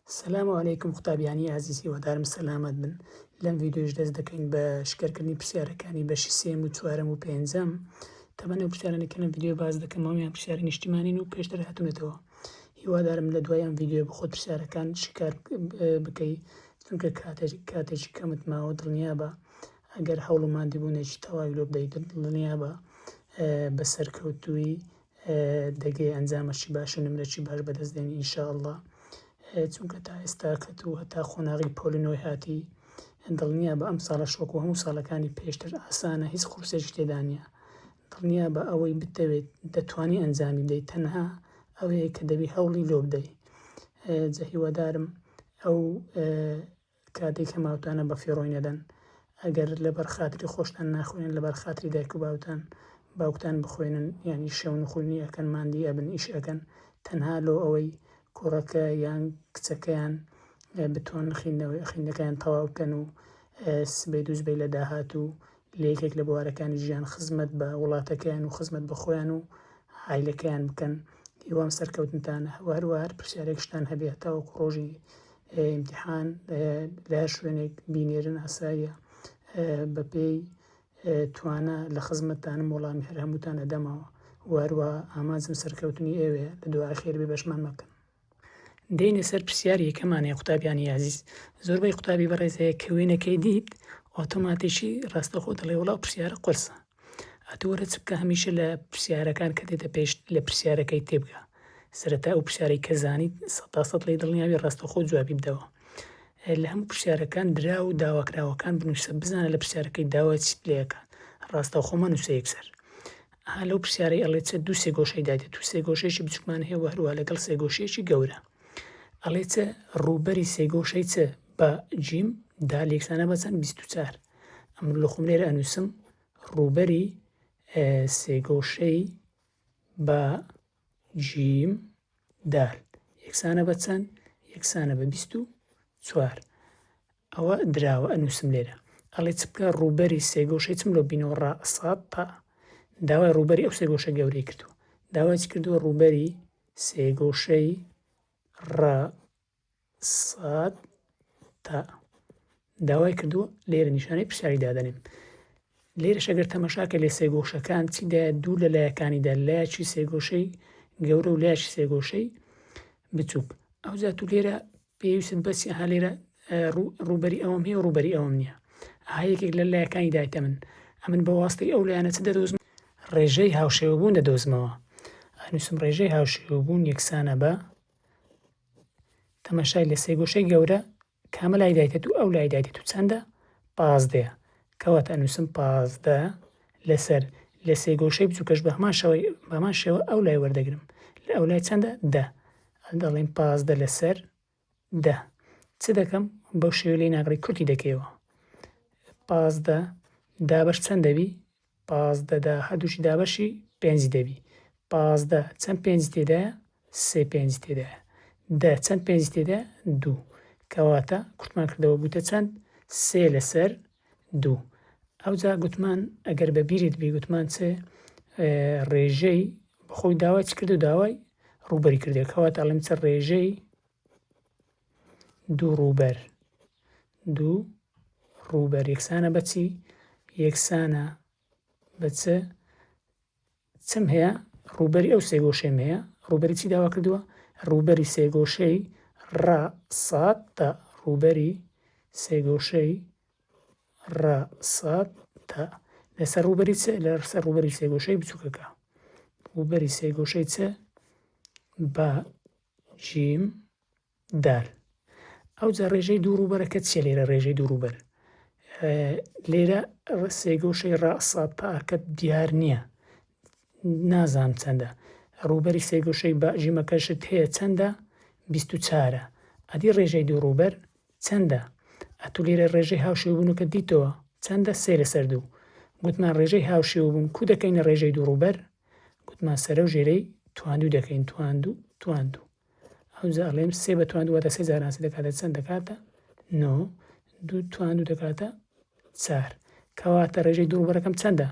سلام علیکم قوتابیانی ئازیز هیوادارم سەلامەت بن لەم ڤیدیۆش دەست دەکەین بە شکەرکردنی پرسیارەکانی بەشی سێم و چوارەم و پێنجەم تەمەنە و پرسیارانی کە لەم ڤیدیۆ باز دەکەمەوە یان پرسیاری نیشتیمانین و پێشتر هاتونەتەوە هیوادارم لە دوای ئەم ڤیدیۆ بخۆت پرسیارەکان شکار بکەی چونکە کاتێکی کەمت ماوە دڵنیا بە ئەگەر هەوڵ و مادیبوونێکی تەواوی لۆ بدەیت دڵنیا بە بە سەرکەوتووی دەگەی ئەنجامەشی باشە نمرەکی باش بەدەست دێنی ئینشاءاللە چونکە تا ئێستا کەت و هەتا قۆناغی پۆلی نۆی هاتی دڵنیا بە ئەم ساڵە شۆک و هەموو ساڵەکانی پێشتر ئاسانە هیچ قورسێکی تێدا نییە دڵنیا بە ئەوەی بتەوێت دەتوانی ئەنجامی بدەیت تەنها ئەوەیە کە دەبی هەوڵی لۆ بدەی جە هیوادارم ئەو کاتێک هەماوتانە بە فیڕۆی نەدەن ئەگەر لەبەر خاتری خۆشتان ناخوێنن لەبەر خاتری دایک و باوتان باوکتان بخوێنن یانی شەو نخوینی ئەکەن ماندی ئەبن ئیش ئەکەن تەنها لۆ ئەوەی کوڕەکە یان کچەکەیان بتوان خیندنەوەی خیندەکەیان تەواو بکەن و سبەی دوو سبەی لە داهاتوو لە یەکێک لە بوارەکانی ژیان خزمەت بە وڵاتەکەیان و خزمەت بە خۆیان و عایلەکەیان بکەن هیوام سەرکەوتنتانە و هەروە هەر پرسیارێکشتان هەبێ هەتاوەکو ڕۆژی ئیمتیحان لە هەر شوێنێک بینێرن ئاساییە بەپێی توانا لە خزمەتتانم وەڵامی هەر هەمووتان ئەدەمەوە و هەروە ئامانجم سەرکەوتنی ئێوێ لە دوعای خێر بێ بەشمان مەکەن دێنە سەر پرسیاری یەکەمان هەیە قوتابیانی یازیز زۆربەی قوتابی بەڕێز هەیە کە وێنەکەی دیت ئۆتۆماتیکی ڕاستەخۆ دەڵێ وڵا پرسیارە قورسە ئەتوو وەرە چ بکە هەمیشە لە پرسیارەکان کە دێتە پێشت لە پرسیارەکەی تێبگە سەرەتا ئەو پرسیارەی کە زانیت سەد تا سەد لێی دڵنیابی ڕاستەوخۆ جوابی بدەوە لە هەموو پرسیارەکان درا و داواکراوەکان بنووسە بزانە لە پرسیارەکەی داوا چیت لێکات ڕاستەوخۆ مەنووسە یەکسەر ها لەو پرسیارەی ئەڵێ چە دوو سێ گۆشەی دادێت تو سێ گۆشەیەکی بچووکمان هەیە و هەروە لەگەڵ سێ گۆشەیەکی گەورە ئەڵێ چە ڕووبەری سێ گۆشەی چە بە جیم دا لێکسانە بەچەند بیست و چار ئەمن لە خۆم لێرە ئەنووسم ڕووبەری سێگۆشەی بە جیم دال یەکسانە بە چەند یەکسانە بە بیست و چوار ئەوە دراوە ئەنووسم لێرە ئەڵێ چ بکە ڕووبەری سێگۆشەی چم لۆ بینەوە ڕا سات تا داوای ڕووبەری ئەو سێگۆشە گەورەی کردو داواچ کردووە ڕووبەری سێگۆشەی ڕ سات تا داوای کردووە لێرە نیشانەی پرسیاری دادەنێم لێرەش ئەگەر تەمەشاکە لێ سێگۆشەکان چیدا دوو لە لایەکانیدا لایەکی سێگۆشەی گەورە و لایەکی سێگۆشەی بچووک ئەو زیات و لێرە پێویست بەسی ها لێرە ڕوبەری ئەوم هەیە ڕوبەری ئەوم نییە ها یەکێک لە لایەکانی دایتە من ئەمن بە واستەی ئەو لایەنە چ دەدۆزم ڕێژەی هاوشێوەبوون دەدۆزمەوە ئەنووسم ڕێژەی هاوشێوەبوون یەکسانە بە تەماشای لە سێگۆشەی گەورە کامە لای دایتێت و ئەو لای دایتێت و چەندە پازدەیە کەواتە ئەنووسم پازدە لەسەر لە سێگۆشەی بچووکەش بە هەمان شەوەی بەمان شێوە ئەو لای وەردەگرم لە ئەو لای چەندە دە دەڵێن پازدە لەسەر دە چ دەکەم بەو شێوە لێ ناگڕی کورتی دەکەیەوە پازدە دابش چەند دەبی پازدە دا هەردووکی دابەشی پێنج دەبی. پازدە چەند پێنجی تێدایە؟ سێ پێنجی تێدایە. دە چەند پێنجی تێدایە؟ دوو. کەواتە کورتمان کردەوە بووتە چەند؟ سێ لەسەر دوو. ئەوجا گوتمان ئەگەر بە بیرت بی گوتمان چ ڕێژەی بەخۆی داوای چ کردو داوای ڕووبەری کردێک کەواتە ئەڵێم چ ڕێژەی دووڕووبەر، دوو ڕووبەر، یەکسانە بە چی؟ یەکسانە بە چ؟ چم هەیە؟ ڕووبەری ئەو سێگۆشەیم هەیە. ڕووبەری چی داوا کردووە؟ ڕووبەری سێگۆشەی ڕ ساد تە. ڕووبەری سێگۆشەی ڕ ساد تە. لەسەر ڕووبەری چ؟ لەسەر ڕووبەری سێگۆشەی بچووکەکە. ڕووبەری سێگۆشەی چ؟ با جیم دار. ئەوجا ڕێژەی دوو ڕووبەرە کە چیە لێرە ڕێژەی دوو ڕووبەر لێرە سێگۆشەی ڕاسا پاکە دیار نییە نازان چەندە ڕووبەری سێگۆشەی باژیمەکەشت هەیە چەندە بیست و چارە ئەدی ڕێژەی دوو ڕووبەر چەندە ئەتو لێرە ڕێژەی هاوشێبوونەکە دیتەوە چەندە سێ لەسەر دوو گوتمان ڕێژەی هاوشێوبوون کو دەکەینە ڕێژەی دوو ڕووبەر گوتمان سەرە و ژێرەی تواندو دەکەین تواندو تواندو ئەوجا ئەڵێم سێ بە توان دوو واتە سێ جار ناسی دەکاتە چەند دەکاتە نۆ دوو توان دوو دەکاتە چار کەواتە ڕێژەی دووڕبەرەکەم چەندە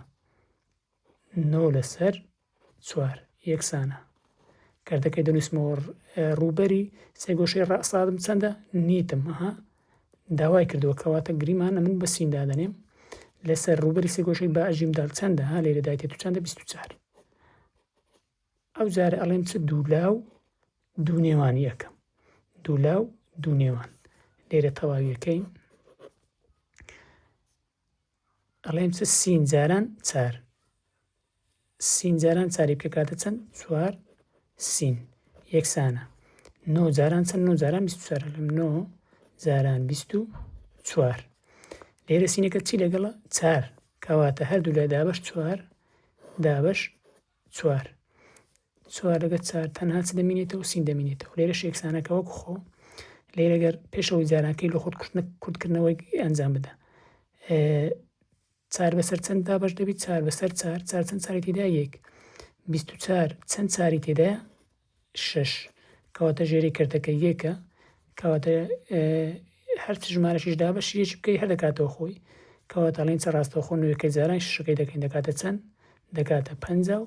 نۆ لەسەر چوار یەکسانە کردەکەی دەنووسمەوە ڕووبەری سێگۆشەی ڕاستادم چەندە نیتم ها داوای کردووە کەواتە گریمانە من بە سین دادەنێم لەسەر ڕووبەری سێگۆشەی بە ئەژیم دال چەندە ها لێرە دایتێت و چەندە 24 ئەو جارە ئەڵێم چ دوو لا و دوو نێوانی ئەکەم دوو لا و دوو نێوان لێرە تەواویەکەی ئەڵێم چ سین جاران چار سین جاران چاری پێکاتە چەند چوار سین یەکسانە نۆ جاران چەند نۆ جاران بیست چوار لەم نۆ جاران بیست و چوار لێرە سینەکە چی لەگەڵە چار کەواتە هەردوو لای دابش چوار دابش چوار، چوار لەگەر چار تەنها چ دەمینێتەوە؟ سین دەمینێتەوە، لێرەش یەکسانەکە وەکو خۆ، لێرە گەر پێشەوەی جارانکەی لە خۆت کورتنە کورتکردنەوەی ئەنجام بدە. چار بەسەر چەند دابەش دەبیت چار بەسەر چار چار چەند چاری تێدا یەک بیست و چار چەند چاری تێدایە شەش کەواتە ژێری کەرتەکە یەکە کەواتە هەرچ ژمارەشیش دابەشی یەکی بکەی هەر دەکاتەوە خۆی کەواتە ئەڵین چە ڕاستەوخۆ نوێکە جاران شەکەی دەکەین دەکاتە چەند دەکاتە پ و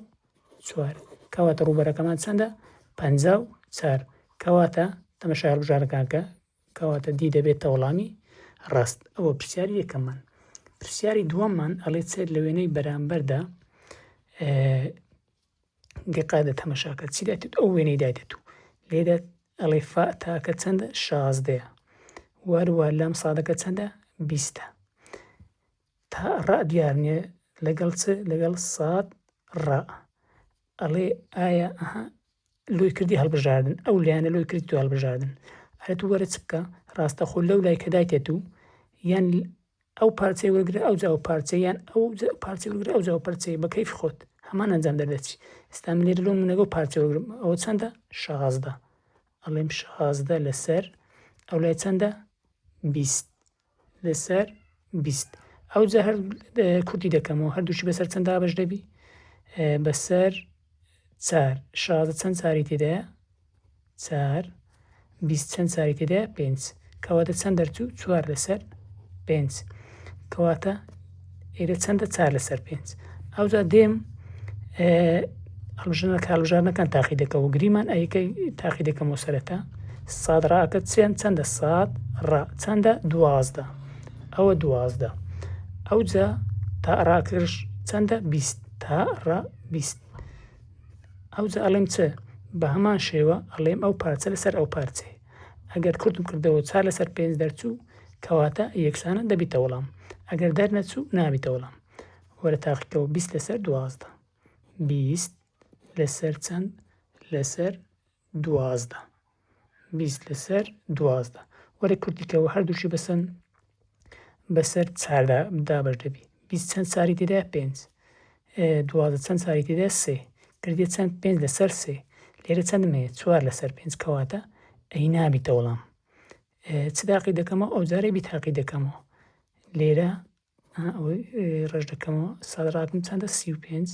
چوار کەواتە ڕوبەرەکەمان چەندە پ و چار کەواتە تەمەشار بژارەکانکە کەواتە دی دەبێت تەوڵامی ڕاست ئەوە پرسیاری یەکەمان پرسیاری دووەممان ئەڵێ چێت لە وێنەی بەرامبەردا دیقادە تەمەشاکە چی دایتت ئەو وێنەی دایتت و لێدە ئەڵێ فا تاکە چەندە شازدەیە واروا لام سادەکە چەندە بیستە تا ڕا دیارنیە لەگەڵ چ لەگەڵ سات ڕا ئەڵێ ئایا ئەها لۆی کردی هەڵبژاردن ئەو لایەنە لۆی کردی تو هەڵبژاردن ئەرە تو وەرە چ بکە ڕاستەخۆ لەو لای کە دایتێت و یان ئەو پارچەی وەرگرە ئەوجا ئەو پارچەی یان ئەو پارچەی وەرگرە ئەوجا ئەو پەرچەی بە کەیفی خۆت هەمان ئەنجام دەردەچی ئێستا من لێرە لۆ منەگە و پارچە وەرگرم ئەوە چەندە شازدە ئەڵێم شازدە لەسەر ئەو لای چەندە بیست لەسەر بیست ئەو جا هەر کورتی دەکەمەوە هەردووشی بەسەر چەند دابش دەبی بەسەر چار شازە چەند چاری تێدایە چار، بیست چەند چاری تێدایە؟ پێنج، کەواتە چەند دەرچوو؟ چوار لەسەر پێنج، کەواتە ئێرە چەندە؟ چار لەسەر پێنج. ئەوجا دێم هەڵبژنە کاربژارنەکان تاقی دەکە و گریمان ئەیکەی تاقی دەکەم و سەرەتا ساد ڕاکە چێن چەندە ساد ڕا چەندە دوازدە ئەوە دوازدە ئەوجا تا ڕاکرش چەندە بیست تا ڕا بیست ئەوجا ئەڵێم چ؟ بە هەمان شێوە ئەڵێم ئەو پارچە لەسەر ئەو پارچەیە. ئەگەر کورتم کردەوە و چار لەسەر پێنج دەرچوو، کەواتە یەکسانە دەبیتە وەڵام. ئەگەر دەرنەچوو، نابیتە وەڵام. وەرە تاقیکەوە بیست لەسەر دوازدە. بیست لەسەر چەند؟ لەسەر. دوازدە بیست لەسەر دوازدە وەرە کورتی کەوە هەردووشی بەسەن بەسەر چاردا دابەش دەبی بیست چەند چاری تێدا پێنج دوازدە چەند چاری تێدا سێ کردێ چەند پێنج لەسەر سێ لێرە چەندم هەیە چوار لەسەر پێنج کەواتە ئەی نابیتە وەڵام چ داقی دەکەمەوە ئەو جارێ بیتاقی دەکەمەوە لێرە ئەوەی ڕێژ دەکەمەوە سەد ڕاکم چەندە سی و پێنج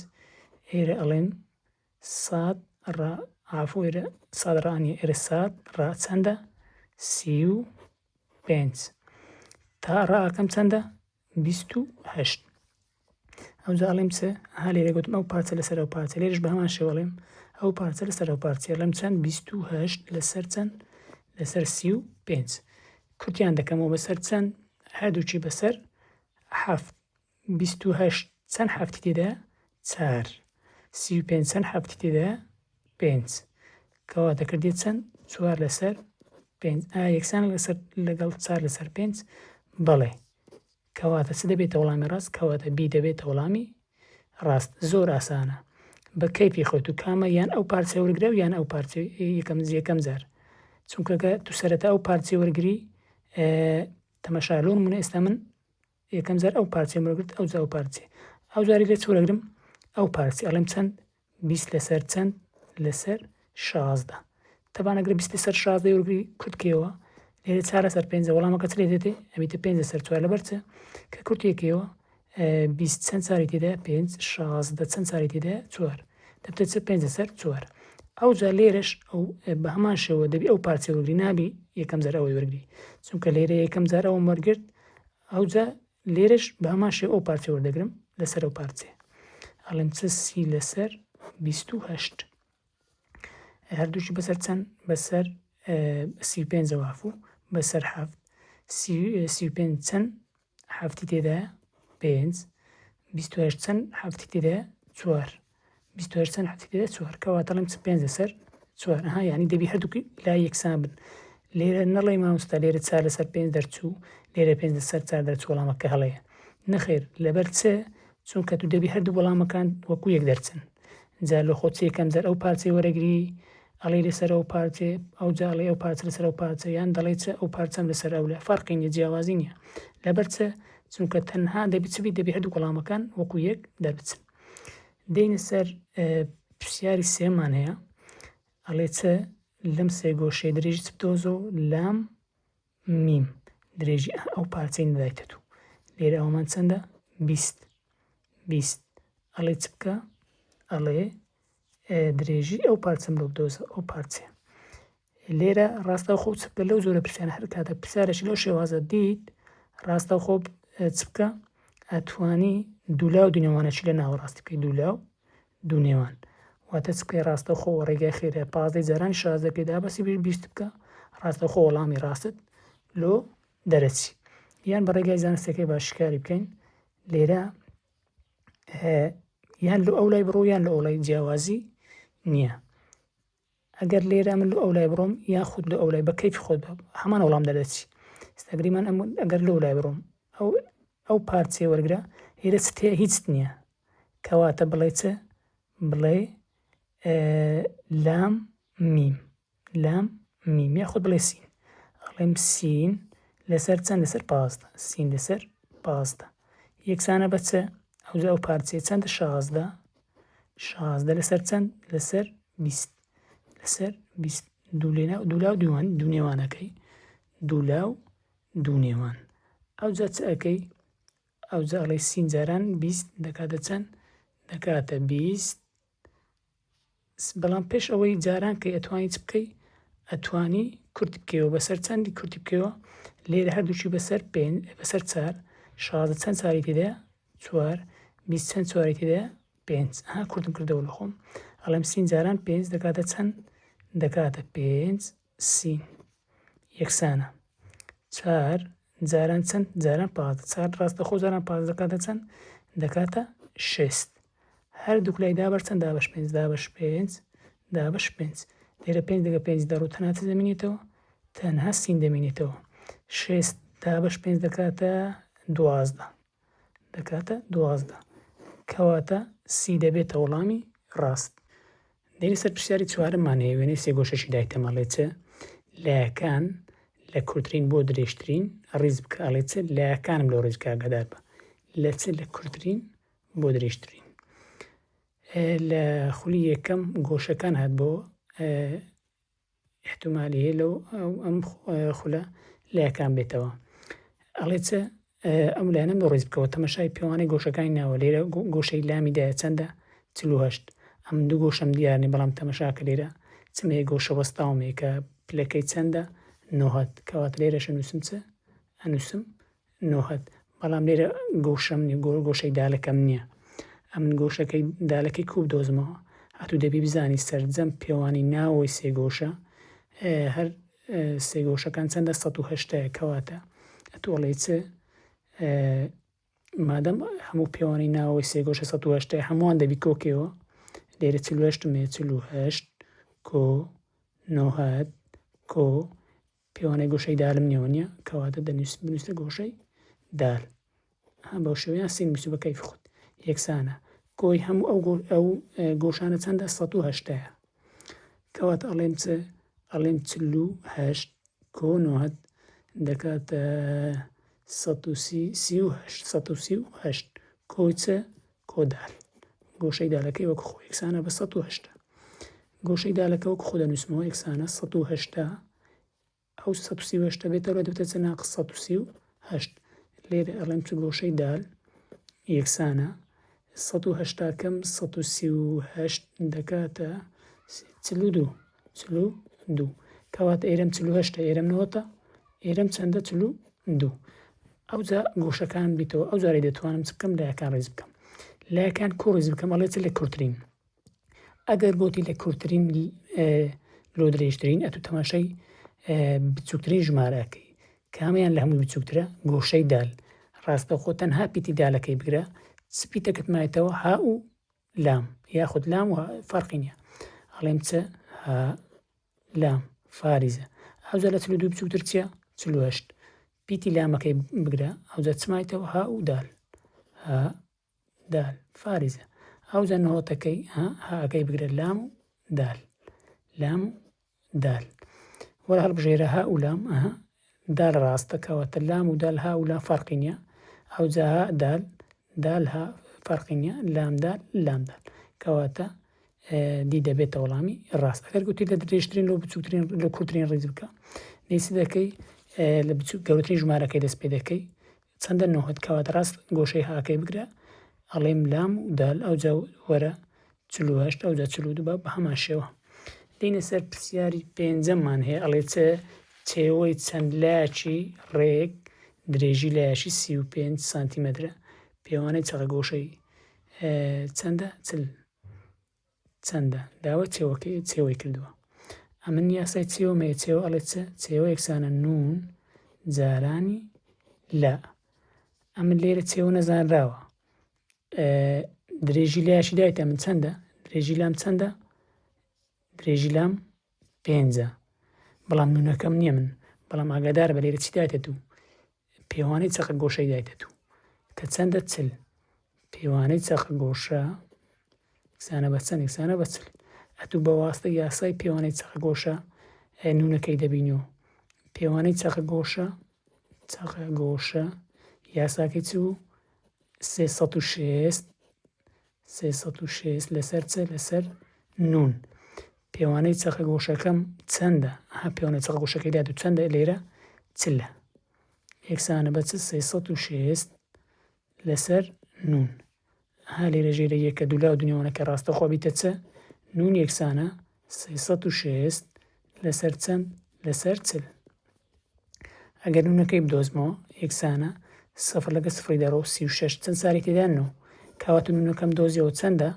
ئێرە ئەڵێن سات ڕا ئافۆ ئێرە سات ڕانیە ئێرە سات ڕا چەندە سی و پێنج تا ڕاکەم چەندە بیست و هەشت ئەوجا ئەڵێم چ ها لێرە گوتم ئەو پارچە لەسەر ئەو پارچە لێرش بە هەمان شێوە ئەڵێم ئەو پارچە لەسەر ئەو پارچە ئەڵێم چەند بیست و هەشت لەسەر چەند لەسەر سی و پێنج کورتیان دەکەمەوە بەسەر چەند هەردووکی بەسەر حەفت. بیست و هەشت چەند حەفتی تێدایە؟ چار. سی و پێنج چەند حەفتی تێدایە؟ پێنج. کەوا دەکردێت چەند؟ چوار لەسەر پێنج. ئایا یەکسانە لەسەر لەگەڵ چار لەسەر پێنج؟ بەڵێ. کەواتە چ دەبێتە وەڵامی ڕاست؟ کەواتە بی دەبێتە وەڵامی ڕاست زۆر ئاسانە بە کەیفی خۆت و کامە یان ئەو پارچە وەرگرە و یان ئەو پارچە یەکەم یەکەم جار چونکە کە تو سەرەتا ئەو پارچەی وەرگری تەمەشا لۆن منە ئێستا من یەکەم جار ئەو پارچەی وەرگرت ئەو جاو پارچێ ئەو جاری لێ چۆرەگرم ئەو پارچی ئەڵێم چەند بیست لەسەر چەند لەسەر شازدە تەبان ئەگرە بیست لەسەر شازدە وەرگری کورتکەوە لێرە چار لەسەر پێنجە وەڵامەکە چ لێ دێتێ ئەبیتە پێنج لەسەر چوار لەبەر چە کە کورتێکەوە بیست چەند چاری تێدا پێنج شازدە چەند چاری تێدا چوار دەبتە چ پێنج لەسەر چوار ئەو جا لێرەش ئەو بە هەمان شێوە دەبی ئەو پارچە وەرگری نابی یەکەم جار ئەوەی وەرگری چونکە لێرە یەکەم جار ئەوم وەرگرت ئەو جا لێرەش بە هەمان شێوە ئەو پارچە وەردەگرم لەسەر ئەو پارچێ ئەڵێم چ سی لەسەر بیست و هەشت هەردووشی بەسەر چەند بەسەر سی و پێنج جەواف و بەسەر هەفت سی و پێنج چەند هەفتی تێدا پێنج بیست و هەشت چەند هەفتی تێدا چوار بیست و هەشت چەند حەدیثی لە چوار کەواتە ئەڵێم چ پێنج لەسەر چوار ها یعنی دەبی هەردووکی لا یەکسان بن لێرە نەڵێ مامۆستا لێرە چار لەسەر پێنج دەرچوو لێرە پێنج لەسەر چار دەرچوو وەڵامەکە هەڵەیە نەخێر لەبەر چ چونکە تو دەبی هەردوو وەڵامەکان وەکو یەک دەرچن جا لە خۆ چێکەم جەر ئەو پارچەی وەرەگری ئەڵێ لەسەر ئەو پارچێ ئەو جا ئەڵێ ئەو پارچە لەسەر ئەو پارچە یان دەڵێ چ ئەو پارچەم لەسەر ئەو لە فەرقی نیە جیاوازی نیە لەبەر چ چونکە تەنها دەبی چ بی دەبی هەردوو وەڵامەکان وەکو یەک دەربچن دێینە سەر پرسیاری سێمان هەیە ئەڵێ چ لەم سێ گۆشەی درێژی چ بدۆزە و لام میم درێژی ئەو پارچەی نەدایتە دوو لێرە ئەومان چەندە بیست بیست ئەڵێ چ بکە ئەڵێ درێژی ئەو پارچەم لۆ بدۆزە ئەو پارچە لێرە ڕاستەوخۆ چ بکە لەو جۆرە پرسیارە هەر کاتە پرسیارێکی لەو شێوازە دیت ڕاستەوخۆ چ بکە ئەتوانی دوولا و دونێوانەشی لە ناوەڕاستی بکەی دوولا و دونێوان واتە چ بکەی ڕاستەوخۆ ڕێگای خێرە پازدەی جاران شاز دەکەی دابەسی بیر بیست بکە ڕاستەوخۆ وەڵامی ڕاستت لۆ دەرەچی یان بە ڕێگای زانستەکەی باشکاری بکەین لێرە یان لە ئەو لای بڕۆ یان لە ئەو لای جیاوازی نییە ئەگەر لێرە من لۆ ئەولای بڕۆم یاخود لۆ ئەولای بە کەیفی خۆت بە هەمان وەڵام دەردەچی ئێستا گریمان ئەم ئەگەر لۆ لای بڕۆم ئەو ئەو پارچەی وەرگرە لێرە چت هەیە هیچت نییە کەواتە بڵێ چ بڵێ لام میم لام میم یاخود بڵێ سین ئەڵێم سین لەسەر چەند لەسەر پازدە سین لەسەر پازدە یەکسانە بە چ ئەوجا ئەو پارچەیە چەندە شازدە شازدە لەسەر چەند لەسەر بیست لەسەر بیست دوو لێنا دوو لاو دووان دوو نێوانەکەی دوو لاو دوو نێوان ئەو جا چ ئەەکەی ئەو جاڵی سینجاران بیست دەکاتە چەند دەکاتە بیست بەڵام پێش ئەوەی جاران کەی ئەتوانی چ بکەی ئەتوانی کورت بکەوە بەسەر چەندی کورتی بکەوە لێرە هەردووشی بەسەر پێ بەسەر چار شازە چەند چاری تێدا چوار بیست چەند چوارێک تێدایە پێنج ها کوردم کردەوە لە خۆم ئەڵێم سین جاران پێنج دەکاتە چەند دەکاتە پێنج سین یەکسانە چار جاران چەند جاران پاز چار ڕاستە خۆ جاران پاز دەکاتە چەند دەکاتە شست هەر دوکلای دابەر چەند دابش پێنج دابش پێنج دابش پێنج لێرە پێنج دەگە پێنج دەڕوو تەنات دەمێنێتەوە تەنها سین دەمێنێتەوە شست دابش پێنج دەکاتە دوازدە دەکاتە دوازدە. کەواتە سی دەبێتە وڵامی ڕاست. دێینە سەر پرسیاری چوارەممان هەیە وێنەی سێگۆشەشی دایتەمە ئەڵێ چ لایەکان لە کورترین بۆ درێژترین ڕیز بکە ئەڵێ چ لایەکانم لەو ڕێزکە ئاگادار بە لە چ لە کورترین بۆ درێژترین لە خولی یەکەم گۆشەکان هات بۆ ئیحتمالی هەیە لەو ئەو ئەم خولە لەیەکان بێتەوە ئەڵێ چ ئەم لایەنم بۆ ڕیز بکەوە تەمەشای پێوانەی گۆشەکانی ناوە لێرە گۆشەی لامی دایە چەندە چلوهشت ئەم دوو گۆشەم دیارنی بەڵام تەمەشاکە لێرە چمێ گۆشە وەستاومێکە پلەکەی چەندە نۆهات کەوات لێرەشە نووسم چ ئەنووسم نوهەد، بەڵام لێرە گۆشەم نیە، گۆ گۆشەی دالەکەم نیە. ئەمن گۆشەکەی دالەکەی کوو بدۆزمەوە؟ هاتوو دەبی بزانی سەرجەم پێوانی ناوەوەی سێ گۆشە هەر سێ گۆشەکان چەندە سەد و هەشتایە کەواتە ئەتوو ئەڵێی چ مادەم هەموو پێوانی ناوەوەی سێ گۆشە سەد و هەشتای هەمووان دەبی کۆکەوە لێرە چل و هەشتم هەیە چل و هەشت کۆ نۆهەد کۆ پێوانەی گۆشەی دالم نێوە نیە کەواتە دەنووسم بنووسە گۆشەی دال ها بەو شێوەیان سین بنووسە بە کەیف خود یەکسانە کۆی هەموو ئەو ئەو گۆشانە چەندە 1970 کەواتە ئەڵێم چ ئەڵێم چلو هەشت کۆنوات دەکاتە 1970 کۆچە کۆدار، گۆشەی دالەکەی وەک خۆ یەکسانە بە سەد و هەشتا. گۆشەی دالەکە وەک خۆ دەنووسمەوە یەکسانە سەد و هەشتا. ئەو سەد و سی و هەشتە بێتە ئەرا دەبێتە چەند ناقس سەد و سی و هەشت. لێرە ئەڵێم چ گۆشەی دال یەکسانە سەد و هەشتا کەم سەد و سی و هەشت دەکاتە چل و دوو. چل و دوو کەواتە ئێرەم چل و هەشتە ئێرەم نەوەتە ئێرەم چەندە چل و دوو ئەوجا گۆشەکان بیتەوە ئەو جارێ دەتوانم چ بکەم لایەکان ڕێز بکەم لایەکان کۆ ڕێز بکەم ئەڵێ چ لە کورتترین ئەگەر بۆتی لە کورتترین لۆ درێژترین ئەتو تەماشای بچووکترین ژمارەکەی کامیان لە هەموو بچووکترە گۆشەی دال ڕاستەخۆ تەنها پیتی دالەکەی بگرە سپیتەکەتمایەتەوە ها و لام یاخود لام و فەرقی نییە ئەڵێم چ ها لام فارزە ئەوجا لە چلو دوو بچووتر چییە چلوهشت پیتی لامەکەی بگرە ئەوجا چمایتەوە ها و دال ها دال فارزە ئەوجا نهۆتەکەی ها هاەکەی بگرە لام و دال لام دال وەلا هەڵبژێرە هە و لام ئەها دال ڕاستە کەواتە لام و دال ها و لا فەرقی نییە ئەوجا ها دال دال ها فەرقی نییە لام دال لام دال کەواتە دی دەبێتە وەڵامی ڕاست ئەگەر گوتی لە درێژترین لۆ بچووترین لە کورتترین ڕیز بکە دیسی دەکەی لە بچوو گەورەترین ژمارەکەی دەست پێ دەکەی چەندە نۆهت کەواتە ڕاست گۆشەی هاکەی بگرە ئەڵیم لام و دال ئەوجا وەرە چل و هەشت ئەوجا چل و دوو بە هەمان شێوە دینە سەر پرسیاری پێنجەمان هەیە ئەڵێ چ چێوەی چەند لایەکی ڕێک درێژی لایەکی سی و پێنج سانتیمەترە پێوانەی چەقە گۆشەی چەندە چل چەندە؟ داوای چێوە چێوەی کردووە. ئەمن یاسای چێوم هەیە، چێوە ئەڵێ چ؟ چێوە یەکسانە نون جارانی لە. ئەمن لێرە چێوە نەزانراوە. درێژی لایشی دایتە من چەندە؟ درێژی لام چەندە؟ درێژی لام پێنجە بەڵام نونەکەم نیە من بەڵام ئاگادار بە لێرە چی دایتە دوو پێوانەی چەقە گۆشەی دایتە دوو کە چەندە چل پێوانەی چەقە گۆشە کسانە بە چەند کسانە بە چل ئەتوو بە واستە یاسای پێوانەی چەقە گۆشە نونەکەی دەبینی و پێوانەی چەقە گۆشە چەقە گۆشە یاساکەی چ بوو سێ سەد و شێست سێ سەد و شێست لەسەر چ لەسەر نون. پێوانەی چەقە گۆشەکەم چەندە؟ ها پێوانەی چەقە گۆشەکەی لای دوو چەندە لێرە چلە یەکسانە بە چ سێ سەد و شێست لەسەر نون. ها لێرە ژێرە یەکە دوولا و دنیوانەکە ڕاستەخۆ بیتە چ نون یەکسانە سێ سەد و شێست لەسەر چەند لەسەر چل. ئەگەر نونەکەی بدۆزمەوە یەکسانە سفر لەگە سفری دەڕۆ سی و شەش چەند ساری تێدا نۆ کەواتە نونەکەم دۆزیەوە چەندە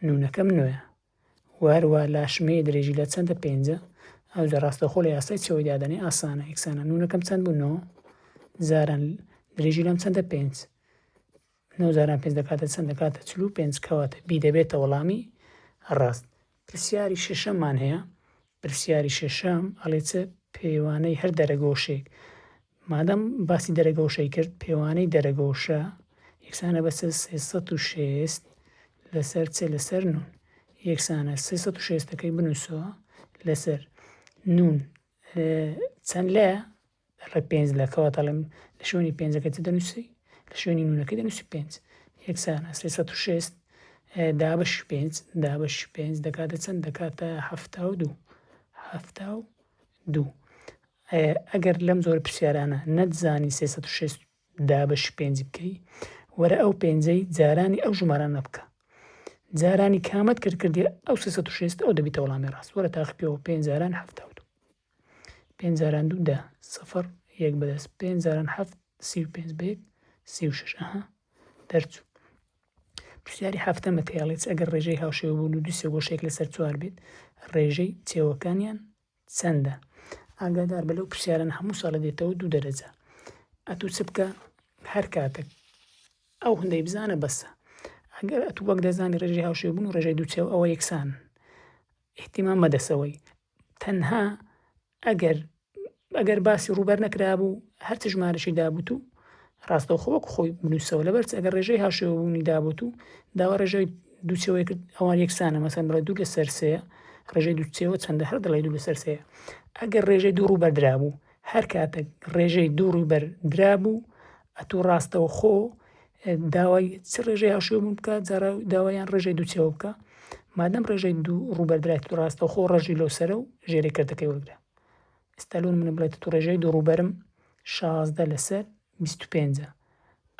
نونەکەم نوێ وهەروە لاشمەیە درێژی لە چەندە پێنجە ئەو جە ڕاستەخۆ لە یاسای چەوەی دادەنێ ئاسانە یەکسانە نونەکەم چەند بوو نۆ زاران درێژی لەم چەندە پێنج نۆ جاران پێنج دەکاتە چەند؟ دەکاتە چل و پێنج، کەواتە بی دەبێتە وەڵامی ڕاست. پرسیاری شەشەممان هەیە، پرسیاری شەشەم ئەڵێ چ پێوانەی هەر دەرەگۆشێک مادەم باسی دەرەگۆشەی کرد پێوانەی دەرەگۆشە یەکسانە بە سێ سەد و شێست لەسەر چ لەسەر نون یەکسانە سێ سەد و شێستەکەی بنووسەوە لەسەر نون چەند لە لە ڕێ پێنج لە کەوە دەڵێم لە شوێنی پێنجەکە چ دەنووسی لە شوێنی نونەکە دەنووسی پێنج یەکسانە سێ سەد و شێست دابش پێنج دابش پێنج دەکاتە چەند دەکاتە هەفتا و دوو هەفتا و دوو ئەگەر لەم زۆر پرسیارانە نەتزانی سێ سەد و شێست دابش پێنج بکەی وەرە ئەو پێنجەی جارانی ئەو ژمارانە بکە جارانی کامەت کرد کردی ئەو سێ سەد و شێست ئەو دەبیتە وەڵامی ڕاست وەرە تاقی پێوە پێنج جاران هەفتا و دوو پێنج جاران دوو دە سفر یەک بەدەست پێنج جاران هەفت سی و پێنج بە یەک سی و شەش ئەها دەرچوو پرسیاری هەفتە مەتەیاڵێت ئەگەر ڕێژەی هاوشێوە بوون و دوو سێگۆشێک لەسەر چوار بێت ڕێژەی چێوەکانیان چەندە ئاگادار بە لەو پرسیارن هەموو ساڵە دێتەوە دوو دەرەجە ئەتوو چ بکە هەر کاتێک ئەو هەندەی بزانە بەسە ئەگەر ئەتوو وەک دەزانی ڕێژەی هاوشێوە بوون و ڕێژەی دووچێو ئەوە یەکسان ئیهتیمام بەدەسەوەی تەنها ئەگەر ئەگەر باسی ڕووبەر نەکرابوو هەرچ ژمارەشی دابوت و ڕاستەوخۆ وەک خۆی بنووسەوە لەبەرچ ئەگەر ڕێژەی هاشێوەبوونی دابوت و داوا ڕێژەی دووچەوەی کرد ئەوان یەکسانە مەسەن بڵێ دوو لە سەرسەیە ڕێژەی دووچەوە چەندە هەر دڵی دوو لە سەرسەیە ئەگەر ڕێژەی دوو ڕووبەردرابوو هەر کاتەک ڕێژەی دوو ڕووبەر درابوو ئەتوو ڕاستەوخۆ داوای چ ڕێژەی هاوشێوە بوون بکە جارا داوایان ڕێژەی دووچەوە بکە مادەم ڕێژەی دوو ڕووبەردرای تو ڕاستەوخۆ ڕژی لەو سەرە و ژێرەی کردەکەی وەرگرە ئستا لون منە بڵێت تو ڕێژەی دوو ڕووبەرم شازدە لەسەر بیست و پێنج.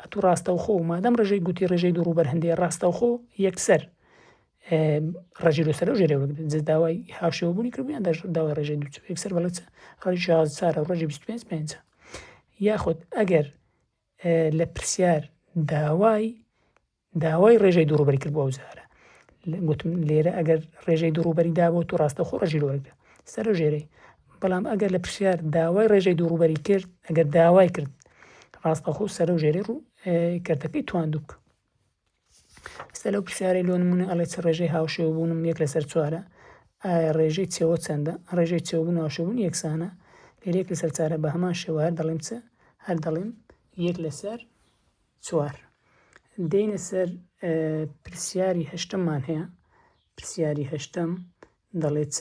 ئەتوو ڕاستەوخۆ، مادەم ڕێژەی گووتی ڕێژەی دوو ڕووبەر هەندەیە ڕاستەوخۆ یەکسەر ڕێژەی لۆ سەرەو ژێرەوە بگرن جز داوای هاوشێوە بوونی کردو یان داش داوای ڕێژەی دوو چوو یەکسەر بەڵێ ڕێژەی شاز چارە ڕێژەی بیست و پێنج پێنجە یاخود ئەگەر لە پرسیار داوای داوای ڕێژەی دوو ڕووبەری کرد بۆ ئەو جارە گوتم لێرە ئەگەر ڕێژەی دوو ڕووبەری دابوو تو ڕاستەخۆ ڕژی لۆرگە سەرە ژێرەی بەڵام ئەگەر لە پرسیار داوای ڕێژەی دوو ڕووبەری کرد ئەگەر داوای کرد ڕاستەخۆ سەرە و ژێرەی ڕوو کردەکەی تواندوک ئستا لەو پرسیارەی لۆ نمونە ئەڵێ چ ڕێژەی هاوشێو بوونم یەک لەسەر چوارە ئایا ڕێژەی چێوە چەندە ڕێژەی چێوبوون هاوشەبوون یەکسانە لێرێک لەسەر چارە بە هەمان شێوە هەر دەڵێم چ هەر دەڵێم یەک لەسەر چوار. دێینە سەر پرسیاری هەشتممان هەیە، پرسیاری هەشتم دەڵێ چ؟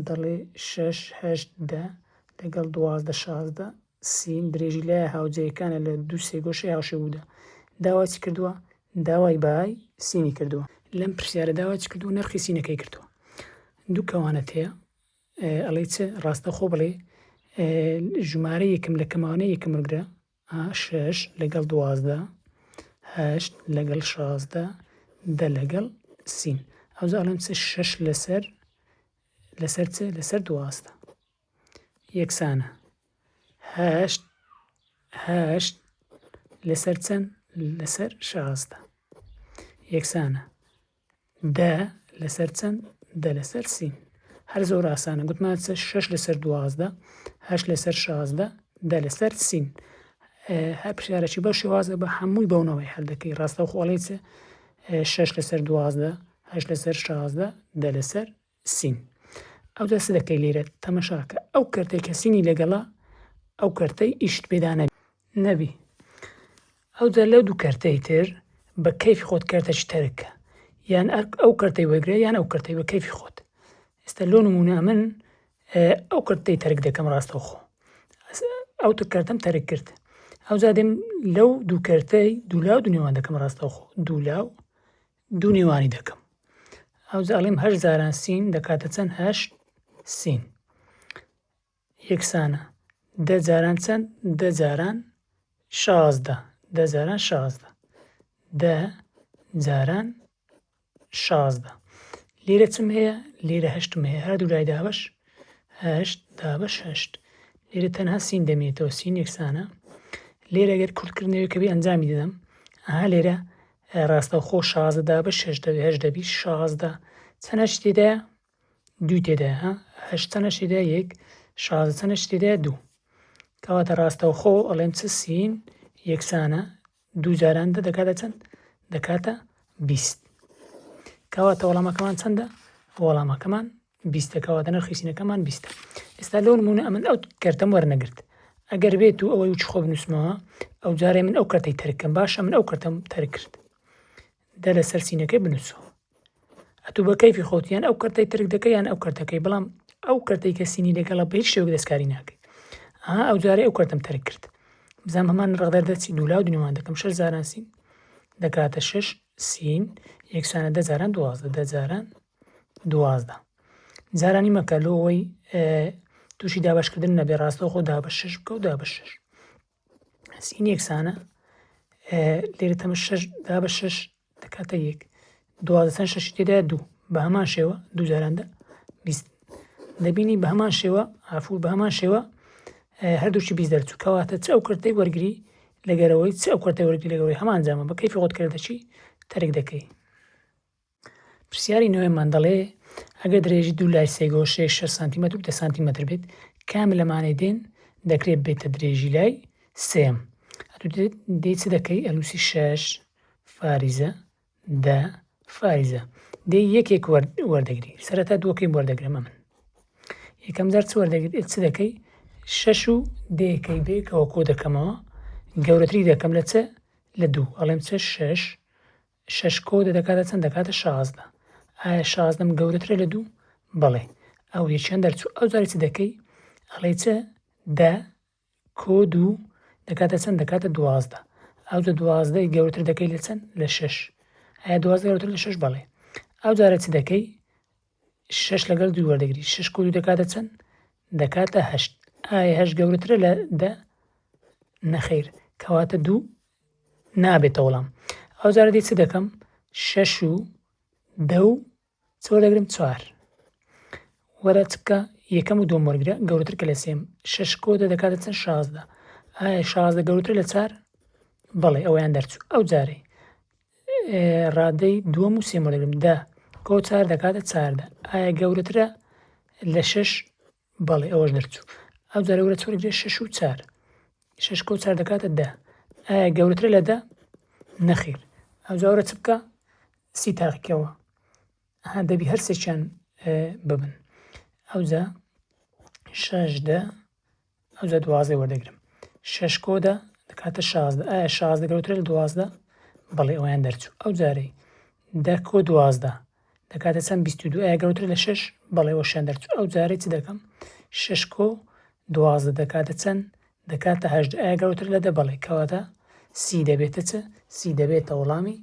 دەڵێ شەش هەشت دە لەگەڵ دوازدە شازدە سی درێژی لایە هاوجەیەکانە لە دوو سێگۆشەی هاوشێ بوودا داواچی کردووە داوای بای سینی کردووە لەم پرسیارە داواچی کردو نرخی سینەکەی کردووە دوو کەوانەت هەیە ئەڵێ چ ڕاستەخۆ بڵێ ژمارە یەکم لە کەماوانە یەکەمگرە ئا شەش لەگەڵ دوازدە. هەشت لەگەڵ شازدە. دە لەگەڵ سین. ئەوجا ئەڵێم چ شەش لەسەر لەسەر چ لەسەر دوازدە یەکسانە هەشت هەشت لەسەر چەند لەسەر شازدە یەکسانە دە لەسەر چەند؟ دە لەسەر سی. هەر زۆر ئاسانە گوتمان چ شەش لەسەر دوازدە هەشت لەسەر شازدە دە لەسەر سین هەر پرسیارەکی بەو شێوازە بە هەمووی بەونەوەی هەر دەکەی ڕاستەوخۆڵی چ شەش لەسەر دوازدە هەش لەسەر شازدە دە لەسەر سین. ئەوجا چ دەکەی لێرە؟ تەمەشاکە ئەو کەرتەی کە سینی لەگەڵە ئەو کەرتەی ئیشت پێدا نەبی. ئەوجا لەو دوو کەرتەی تر بە کەیفی خۆت کەرتەکی تەرککە. یان ئەو کەرتەی وەرگرە یان ئەو کەرتەی بە کەیفی خۆت. ئێستا لۆ نموونە ئەمن ئەو کەرتەی تەرک دەکەم ڕاستەوخۆ. ئەو تر کەرتەم تەرک کرد. ئەوجا دێم لەو دوو کەرتەی دوولاو دنێوان دەکەم ڕاستەوخۆ. دوولاو دوو نێوانی دەکەم ئەوجا ئەڵیم هەشت جاران سین دەکاتە چەند هەشت سین یەکسانە دە جاران چەند دە جاران شازدە دە جاران شازدە دە جاران شازدە لێرە چم هەیە لێرە هەشتم هەیە هەردوو لای دابش هەشت دابش هەشت لێرە تەنها سین دەمێتەوە سین یەکسانە لێرە گەر کورتکردنەوەی کەبی ئەنجامی دەدەم ئەها لێرە ڕاستەوخۆ شازدە دابە شەش دەبێ هەشت دەبی شازدە چەنە شتی دە دوو تێدا ها هەشت چەنە شتی دە یەک شازدە چەنە شتی دە دوو کەواتە ڕاستەوخۆ ئەڵێم چ سین یەکسانە دوو جاران دە دەکاتە چەند دەکاتە بیست کەواتە وەڵامەکەمان چەندە وەڵامەکەمان بیستە کەواتە نرخی سینەکەمان بیستە ئێستا لەو نمونە ئەمن ئەو کەرتەم وەرنەگرت ئەگەر بێت و ئەوەی وچ خۆ بنووسمەوە ئەو جارێ من ئەو کەرتەی تەرکەم باشە من ئەو کەرتەم تەرکرد دە لەسەر سینەکەی بنووسەوە ئەتو بە کەیفی خۆتیان ئەو کەرتەی ترک دەکەیان ئەو کەرتەکەی بەڵام ئەو کەرتەی کە سینی لەگەڵە بە هیچ شێوک دەستکاری ناکەی ئەها ئەو جارێ ئەو کەرتم تەرک کرد بزانام هەمان ڕغدەر دەچی دوولا و دنیوان دەکەم شەش زاران سین دەکاتە شش سین یەکسانە دەجاران دوازدە دەجاران دوازدە جارانی مەکە لۆ ئەوەی تووشی دابشکردن نەبێ ڕاستەوخۆ دابە شش بکە و دابە شش سین یەکسانە لێرە تەمە شش دابە شش دەکاتە یەک دوازدەسان شەشی تێدا دوو بە هەمان شێوە دوو جاراندا بیست دەبینی بە هەمان شێوە ئافور بە هەمان شێوە هەردووشی بیست دەرچوو کەواتە چ ئەو کردەی وەرگری لەگەرەوەی چ ئەو کردەوەرگی لەگەوەی هەمان جامە بە کەیفی خۆت کردەچی تەرک دەکەی پرسیاری نۆیەممان دەڵێ ئەگەر درێژی دوو لای سێ گۆشەی شەش سانتیمەتر و دە سانتیمەتر بێت کام لەمانەی دێن دەکرێت بێتە درێژی لای سێم دێ چ دەکەی ئەلوسی شەش فاریزە دە فاریزە دێ یەکێک وەردەگری سەرەتا دووەکەی وەردەگرمە من یەکەم جار چ وەردەگرێت چ دەکەی شەش و دێکەی بێکەوە کۆ دەکەمەوە گەورەتری دەکەم لە چە لە دوو ئەڵێم چە شەش شەش کۆ دە دەکاتە چەند دەکاتە شازدە ئایا شازدەم گەورەترە لە دوو بەڵێ ئەو یەکیان دەرچوو ئەو جاری چ دەکەی ئەڵێ چ دە کۆ دوو دەکاتە چەند دەکاتە دوازدە ئەو جە دوازدەی گەورەتر دەکەی لە چەند لە شەش ئایا دوازدە گەورەتر لە شەش بەڵێ ئەو جارە چ دەکەی شەش لەگەڵ دوو وەردەگری شەش کۆ دوو دەکاتە چەند دەکاتە هەشت ئایا هەشت گەورەترە لە دە نەخیر کەواتە دوو نابێتە وەڵام ئەو جارە دی چ دەکەم شەش و دە و چۆر دەگرم چوار وەرە چکە یەکەم و دوم وەرگرە گەورەتر کە لە سێم شەش کۆ دە دەکاتە چەند شازدە ئایا شازدە گەورەتر لە چار بەڵێ ئەویان دەرچوو ئەو جارەی ڕادەی دووەم و سێم بۆ دەگرم دە کۆ چار دەکاتە چاردە ئایا گەورەترە لە شش بەڵێ ئەوەش دەرچوو ئەو جارە وەرە چۆر گرێ شش و چار شش کۆ چار دەکاتە دە ئایا گەورەترە لە دە نەخیر ئەو جاورە چ بکە سی تاقیکەوە ها دەبی هەرسێکیان ببن ئەوجا شش دە ئەوجا دوازدەی وەردەگرم شەش کۆ دە دەکاتە شازدە ئایا شازدە گەورەترە لە دوازدە بەڵێ ئەویان دەرچوو ئەو جارەی دە کۆ دوازدە دەکاتە چەند بیست و دوو ئایا گەورەترە لە شەش بەڵێ وەشیان دەرچوو ئەو جارەی چ دەکەم شەش کۆ دوازدە دەکاتە چەند دەکاتە هەژدە ئایا گەورەتر لە دە بەڵێ کەواتە سی دەبێتە چ سی دەبێتە وەڵامی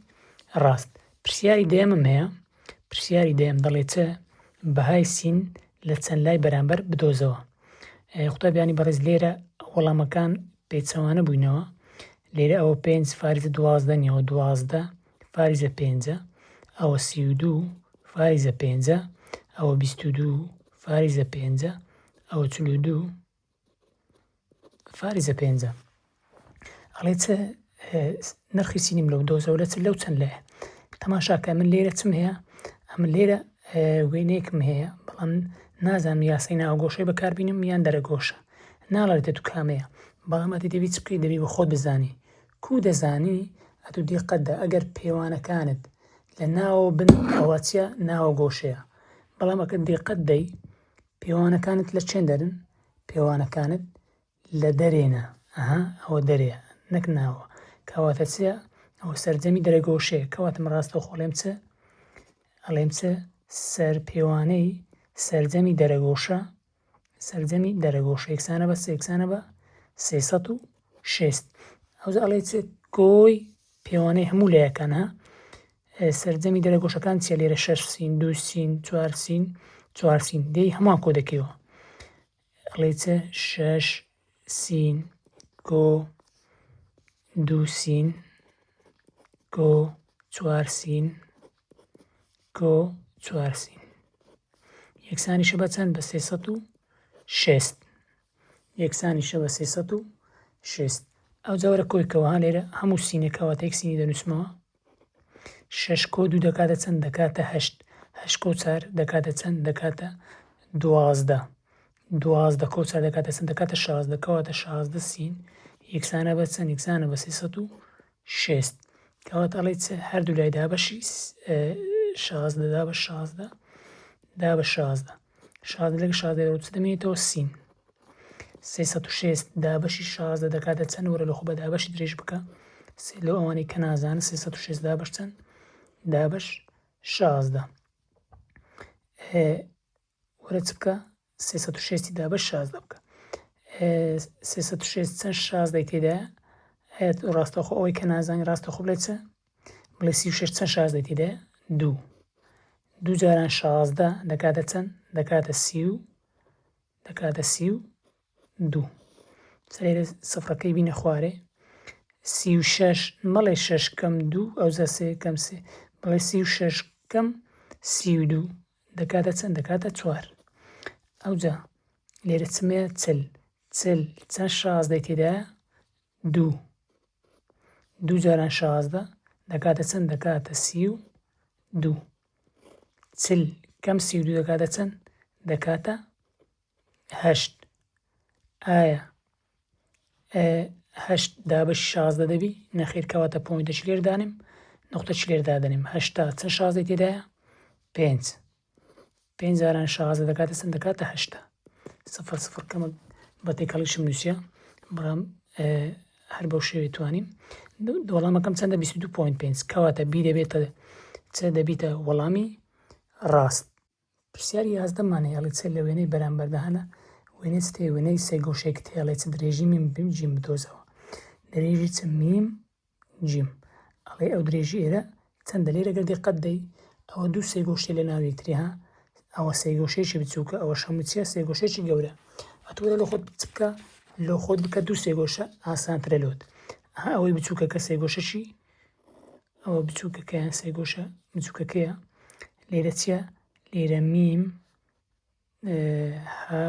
ڕاست پرسیاری دەیەمم هەیە پرسیاری دەیەم دەڵێ چ بەهای سین لە چەند لای بەرامبەر بدۆزەوە قوتابیانی بەڕێز لێرە وەڵامەکان پێچەوانە بووینەوە لێرە ئەوە پێنج فارزە دوازدە نیەوە دوازدە فارزە پێنجە ئەوە سی و دوو فارزە پێنجە ئەوە بیست و دوو فارزە پێنجە ئەوە چل و دوو فارزە پێنجە ئەڵێ چ نرخی سینیم لەو دۆزەوە لە چ لەو چەند لایە تەماشاکە من لێرە چم هەیە ئەم لێرە وێنەیەکم هەیە بەڵام نازانم یاسای ناوگۆشەی بەکاربینم یان دەرەگۆشە ناڵێتە تو کامەیە بەڵام ئەتی دەبی چ بکەی دەبی بە خۆت بزانی کو دەزانی ئەتو دیقەتدا ئەگەر پێوانەکانت لە ناوە بن ئەوەچە ناوە گۆشەیە بەڵام ئەکە دیقەت دەی پێوانەکانت لە چێن دەرن؟ پێوانەکانت لە دەرێنە، ئەها ئەوە دەرێ نەک ناوە، کەواتە چ؟ ئەوە سەرجەمی دەرەگۆشەیە، کەواتە من ڕاستەوخۆ ئەڵێم چ؟ ئەڵێم چ؟ سەر پێوانەی سەرجەمی دەرەگۆشە، سەرجەمی دەرەگۆشە یەکسانە بە چ؟ یەکسانە بە سێ سەد و شێست ئەوجا ئەڵێ چێت کۆی پێوانەی هەموو لایەکان ها سەرجەمی دەرە گۆشەکان چیە لێرە شەش سین دوو سین چوار سین چوار سین دێی هەمان کۆ دەکەیەوە ئەڵێ چە شەش سین کۆ دوو سین کۆ چوار سین کۆ چوار سین یەکسانیشە بە چەند بە سێسەد و شێست یەکسانیشە بە سێ سەد و شێست ئەوجا وەرە کۆی کەوە ها لێرە هەموو سینێکە واتە یەک سینی دەنووسمەوە شەش کۆ دوو دەکاتە چەند دەکاتە هەشت هەشت کۆ چار دەکاتە چەند دەکاتە دوازدە دوازدە کۆ چار دەکاتە چەند دەکاتە شازدە کەواتە شازدە سین یەکسانە بە چەند یەکسانە بە سێ سەد و شێست، کەواتە ئەڵێی چ؟ هەردوو لای دا بە شازدە، دا بە شازدە، دا بە شازدە، شازدە لەگە شازدە دەرەوە چ دەمێنێتەوە؟ سین. سێ سەد و شێست دابەشی شازدە دەکاتە چەند وەرە لە خۆ بە دابەشی درێژ بکە سێ لەو ئەوانەی کە نازانن سێ سەد و شێست دابەش چەند دابەش شازدە. وەرە چ بکە سێ سەد و شێستی دابە شازدە بکە سێ سەد و شێست چەند شازدەی تێدا هەیەت ڕاستەخۆ ئەوەی کە نازانانی ڕاستەخۆ بڵێ چە بڵێ سی و شش چەند شازدەی تێدا دوو دوو جاران شازدە دەکاتە چەند دەکاتە سی و دەکاتە سی و دوو سەرێ سفرەکەی بینە خوارێ سی و شش مەڵێ شش کەم دوو ئەوزە سێ کەم سێ بڵێ سی و شش کەم سی و دوو دەکاتە چەند؟ دەکاتە چوار. ئەوجا لێرە چمەیە چل چل چەند شازدەی تێدایە دوو دوو جاران شازدە دەکاتە چەند دەکاتە سی و دوو چل کەم سی و دوو دەکاتە چەند دەکاتە هەشت ئایا هەشت دابەش شازدە دەبی نەخیر کەواتە پۆینتە چ لێر دانێم نقطە چ لێر دادەنێم هەشتا چەند شازدەی تێدایە پێنج پێنج جاران شازدە دەکاتە سند دەکاتە هەشتا سفر سفر کەمە بە تێکەڵیشم نووسە بەڵام هەر بەو شێوێ توانیم وەڵامەکەم چەندە 22.5 کەواتە بی دەبێتە چە دەبیتە وەڵامی ڕاست پرسیاری یازدە مان هێڵی چ لە وێنەی بەرامبەردا هەنە وێنەی چ تێ وێنەی سێ گۆشەی کت هێڵێ چ درێژی میم بیم جیم بدۆزەوە درێژی چ میم جیم ئەڵێ ئەو درێژی ئێرە چەندە لێرە گەر دقەت دەی ئەوە دوو سێ گۆشتێ لە ناو یەکتری ها ئەوە سێ گۆشەیەکی بچووکە ئەوە شەموو چیە سێ گۆشەیەکی گەورە ئەتوەرە لە خۆت بچکە لۆ خۆت بکە دوو سێ گۆشە ئاسانترە لۆت ئەوەی بچووکە کە سێ گۆشەشی ئەوە بچووکەکە یان سێگۆشە بچووکەکەیە لێرە چییە لێرە میم ها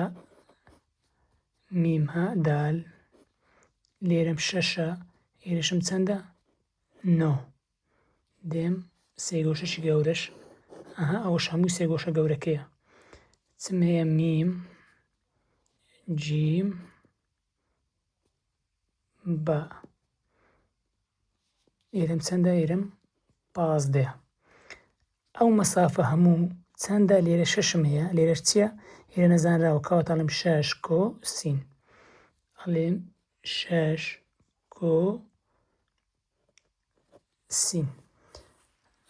میم ها دال لێرەم شەشە ئێرەشم چەندە نۆ دێم سێگۆشەشی گەورەش ئەها ئەوەش هەموو سێگۆشە گەورەکەیە چم هەیە میم جیم بە ئێرم چەندە ئێرم پازدە ئەو مەسافە هەموو چەندە لێرە شەشم هەیە لێرەش چییە ئێرە نەزانراوە کەواتەڵم شەش کۆ سین ئەڵێن شەش کۆ سین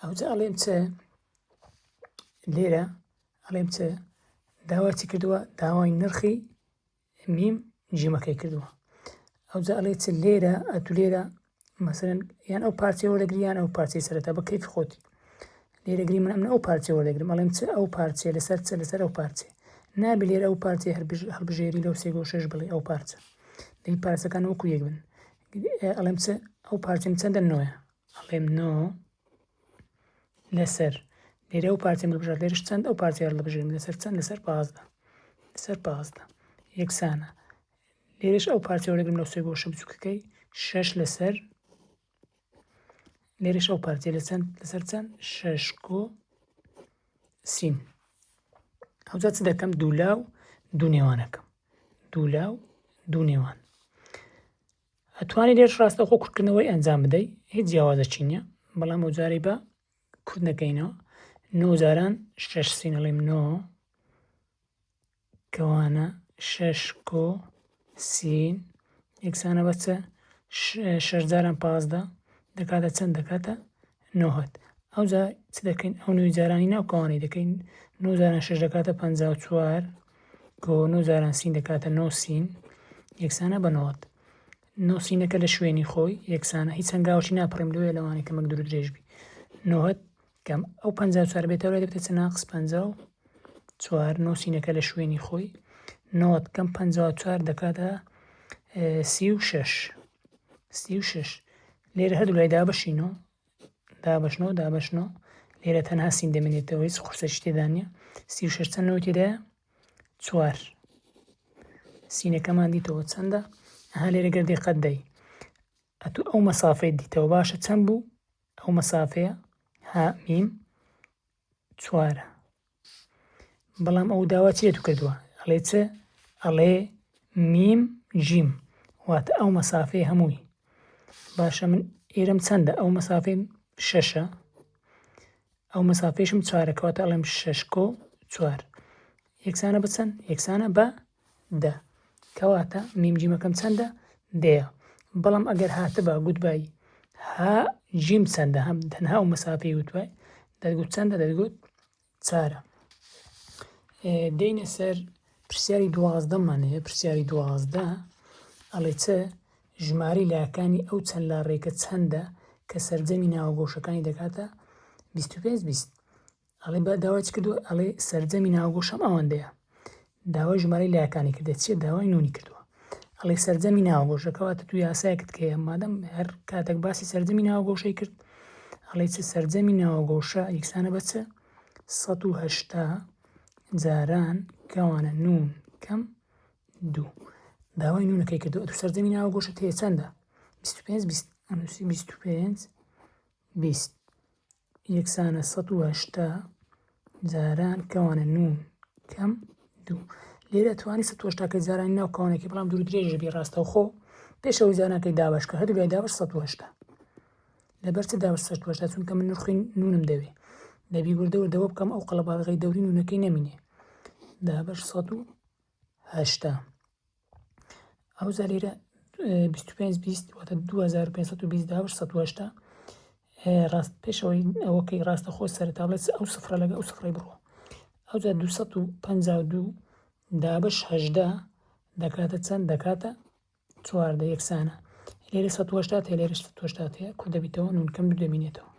ئەوجا ئەڵێم چ لێرە ئەڵێم چ داواتی کردووە داوای نرخی میم جیمەکەی کردووە ئەوجا ئەڵێ چ لێرە ئەتو لێرە مەسەرەن یان ئەو پارچەی وەرەگریان ئەو پارچەی سەرەتا بە کەیف خۆتی لێرەگری من ئەمن ئەو پارچە وەرەگرم ئەڵێم چ ئەو پارچێ لەسەر چە لەسەر ئەو پارچێ نابێ لێرە ئەو پارچێ هەڵبژێری لەو سێگۆ شش بڵێ ئەو پارچە دەی پارچەکان وەکو یەک بن ئەڵێم چ ئەو پارچم چەندە نۆە ئەڵێم نۆ لەسەر لێرە ئەو پارچەم ببژێر لێرش چەند ئەو پارچە هەڵبژێرم لەسەر چەند لەسەر پازدە لەسەر پازدە یەکسانە لێرش ئەو پارچە وەرەگرم لەو سێ گۆشە بچووکەکەی شەش لەسەر لێرش ئەو پارچە لە چەند لەسەر چەند شەش کۆ سین ئەوجا چ دەکەم دوولا و دوو نێوانەکەم دوولا و دوو نێوان ئەتوانی لێرش ڕاستەوخۆ کورتکردنەوەی ئەنجام بدەی هیچ جیاوازەکی نییە بەڵام ئەو جارەی بە کورت نەکەینەوە نۆ جاران شەش سینەڵیم نۆ کەوانە شەش کۆ سین یەکسانە بەچە شەش جاران پازدە دەکاتە چەند دەکاتە نۆهەد. ئەوجا چ دەکەین؟ ئەو نۆی جارانی ناو کەوانەی دەکەین. نۆ جاران شەش دەکاتە پەنجا و چوار کۆ نۆ جاران سین دەکاتە نۆ سین یەکسانە بە نۆهەد. نۆ سینەکە لە شوێنی خۆی یەکسانە هیچ هەنگاوەکی ناپەڕیم لەوێ لەوانی کە مەک درو درێژ بی. نۆهەد کەم ئەو پەنجا و چوار بێتەوە لێ دەبێتە چ ناقص پەنجا و چوار نۆ سینەکە لە شوێنی خۆی نۆهەد کەم پەنجا و چوار دەکاتە سی و شەش سی و شەش لێرە هەردوو لای دابەشین و دابەشنەوە دابەشنەوە لێرە تەنها سین دەمێنێتەوە هیچ قورسێکی تێدا نیە سی و شش چەندەوە تێدایە چوار سینەکەمان دیتەوە چەندە ها لێرە گەر دقەت دەی ئەتو ئەو مەسافەی دیتەوە باشە چەند بوو ئەو مەسافەیە ها میم چوارە بەڵام ئەو داوا چێت و کردووە ئەڵێ چ ئەڵێ میم جیم واتە ئەو مەسافەیە هەمووی باشە من ئێرم چەندە ئەو مەسافەی شەشە ئەو مەسافەیشم چارەکەواتە ئەڵێم شەشکۆ چوار یەکسانە بە چەند یەکسانە بە دە کەواتە میم جیمەکەم چەندە دەیە بەڵام ئەگەر هاتبا گوتبای ها جیم چەندە هەم تەنها و مەسافەی وتوای دەگوت چەندە دەگوت چارە دێنە سەر پرسیاری دوازدەمان هەیە پرسیاری دوازدە ئەڵێ چ ژماری لاکانی ئەو چەند لا ڕێکە چەندە کە سەرجەمی ناوەگۆشەکانی دەکاتە 25 20 ئەڵێ با داوای چ کردووە ئەڵێ سەرجەمی ناوەگۆشەم ئەوەندەیە داوای ژمارەی لایەکانی کردێت چیە داوای نونی کردووە ئەڵێ سەرجەمی ناوەگۆشەکەواتە تو یاسایەکت کەیە مادەم هەر کاتێک باسی سەرجەمی ناوەگۆشەی کرد ئەڵێ چ سەرجەمی ناوەگۆشە یکسانە بە چ 1970 جاران کەوانە نون کەم دوو داوای نونەکەی کردو تو سەرجەمی ناوەگۆشە تێ چەندە 25 25 20 یەکسانە سەد و هەشتا جاران کەوانە نون کەم دوو لێرە توانی سە هەشتاکە جارانی ناو کەوانەکە بەڵام دوور درێژە بی ڕاستەوخۆ پێشەوە جارانەکەی دابش کە هەردوو دابش سە هەشتا لەبەر چ دابش سە هەشتا چونکە من نرخین نونم دەوێ دەبی وردەوە دەوە بکەم ئەو قەڵەباڵغی دەوری نونەکەی نەمینێ دابش سە و هەشتا ئەوجا لێرە بیست و پێنج بیست واتە دوو هەزار و پێنج سەد و بیست داوە سەد و هەشتا ڕاست پێشەوەی ئەوەکەی ڕاستە خۆ سەرتا بڵێت ئەو سفرە لەگە ئەو سفرەی بڕۆ ئەوجا دوو سەد و پەنجا و دوو دابش هەژدە دەکاتە چەند دەکاتە چواردە یەکسانە لێرە سەد وەشتات هەیە لێرە سەد وەشتات هەیە کورت دەبیتەوە نونکەم دوو دەمینێتەوە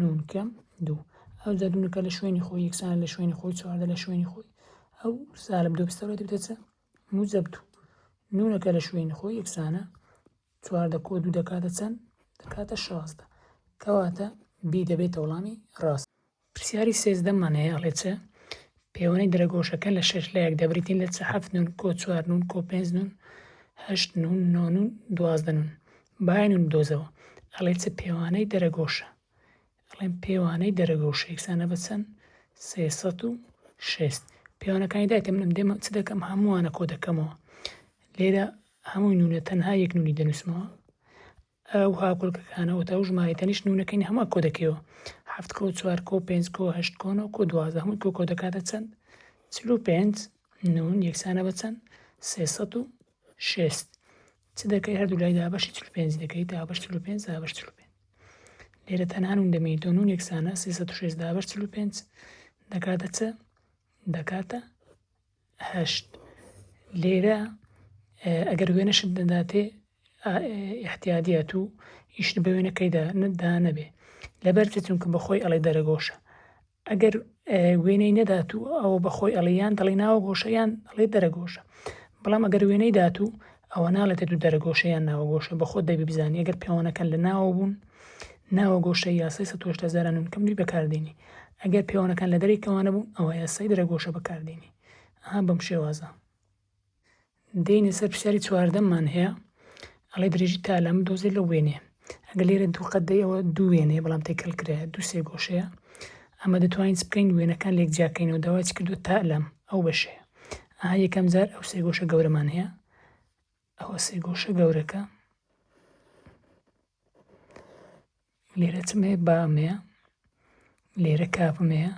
نونکەم دوو ئەو جا دوونەکە لە شوێنی خۆی یەکسان لە شوێنی خۆی چواردە لە شوێنی خۆی ئەو سالب دوو بستەوە دەبێتە چە موجب دوو نونەکە لە شوێنی خۆی یەکسانە چواردە کۆ دوو دەکاتە چەند دەکاتە شازدە کەواتە بی دەبێتە وڵامی ڕاست پرسیاری سێزدە مان هەیە ئەڵێ چ پێوەنەی درەگۆشەکان لە شەش لایەک دەبریتین لە چ حەفت نون کۆ چوار نون کۆ پێنج نون هەشت نون نۆ نون دوازدە نون باین نون دۆزەوە ئەڵێ چ پێوانەی دەرەگۆشە ئەڵێن پێوانەی دەرەگۆشە یەکسانە بە چەند سێسەد و شێست پێوانەکانی دایتە منم دێمە چ دەکەم هەمووانە کۆ دەکەمەوە لێرە هەمووی نونە تەنها یەک نونی دەنووسمەوە ئەو هاوکۆلکەکانە وتە و ژمارەی تەنیشت نوونەکەی نە هەموو کۆ دەکەیەوە هەفت کۆ چوار کۆ پێنج کۆ هەشت کۆ نۆ کۆ دوازدە هەمووی کۆ کۆ دەکاتە چەند چل و پێنج نوون یەکسانە بە چەند سێسەد و شێست چ دەکەی هەردوو لای دابەشی چل و پێنج دەکەی دابەش چل و پێنج دابەش چل و پێنج لێرە تەنها نوون دەمێنی تۆ نوون یەکسانە سێسەد و شێست دابەش چل و پێنج دەکاتە چ دەکاتە هەشت، لێرە ئەگەر وێنەشت نەداتێ ئیحتیادیە تو ئیشت بە وێنە کەیدا نەدا نەبێ لەبەرچە چونکە بەخۆی ئەڵێ دەرەگۆشە ئەگەر وێنەی نەدات و ئەوە بەخۆی ئەڵیان دەڵی ناوە گۆشەیان ئەڵێ دەرەگۆشە بەڵام ئەگەر وێنەی دات و ئەوە ناڵێتە دوو دەرەگۆشەیان ناوە گۆشە بەخۆ دەبی بزانانی ئەگەر پێوانەکەن لە ناوە بوون ناوە گۆشەی یاسای سەد و هەشتا هەزار ئانون کەم دووی بەکاردێنی ئەگەر پێوانەکان لە دەرەی کەوانە بوون ئەوە یاسای درەگۆشە بەکاردێنی ئەها بەم شێوازە دێنێ سەر پرسیاری چواردەممان هەیە ئەڵێ درێژی تا لەم دۆزێ لە وێنێ ئەگەر لێرە دوو قەدەی ئەوە دوو وێنێ بەڵام تێکەل کرێ دوو سێ گۆشەیە ئەمە دەتوانین بکەین وێنەکان لێک جیاکەینەوە داواچ کردو تا لەم ئەو بەشێ ئاها یەکەم جار ئەو سێ گۆشە گەورەمان هەیە ئەوە سێگۆشە گەورەکە لێرە چم هەیە بام هەیە لێرە کاپم هەیە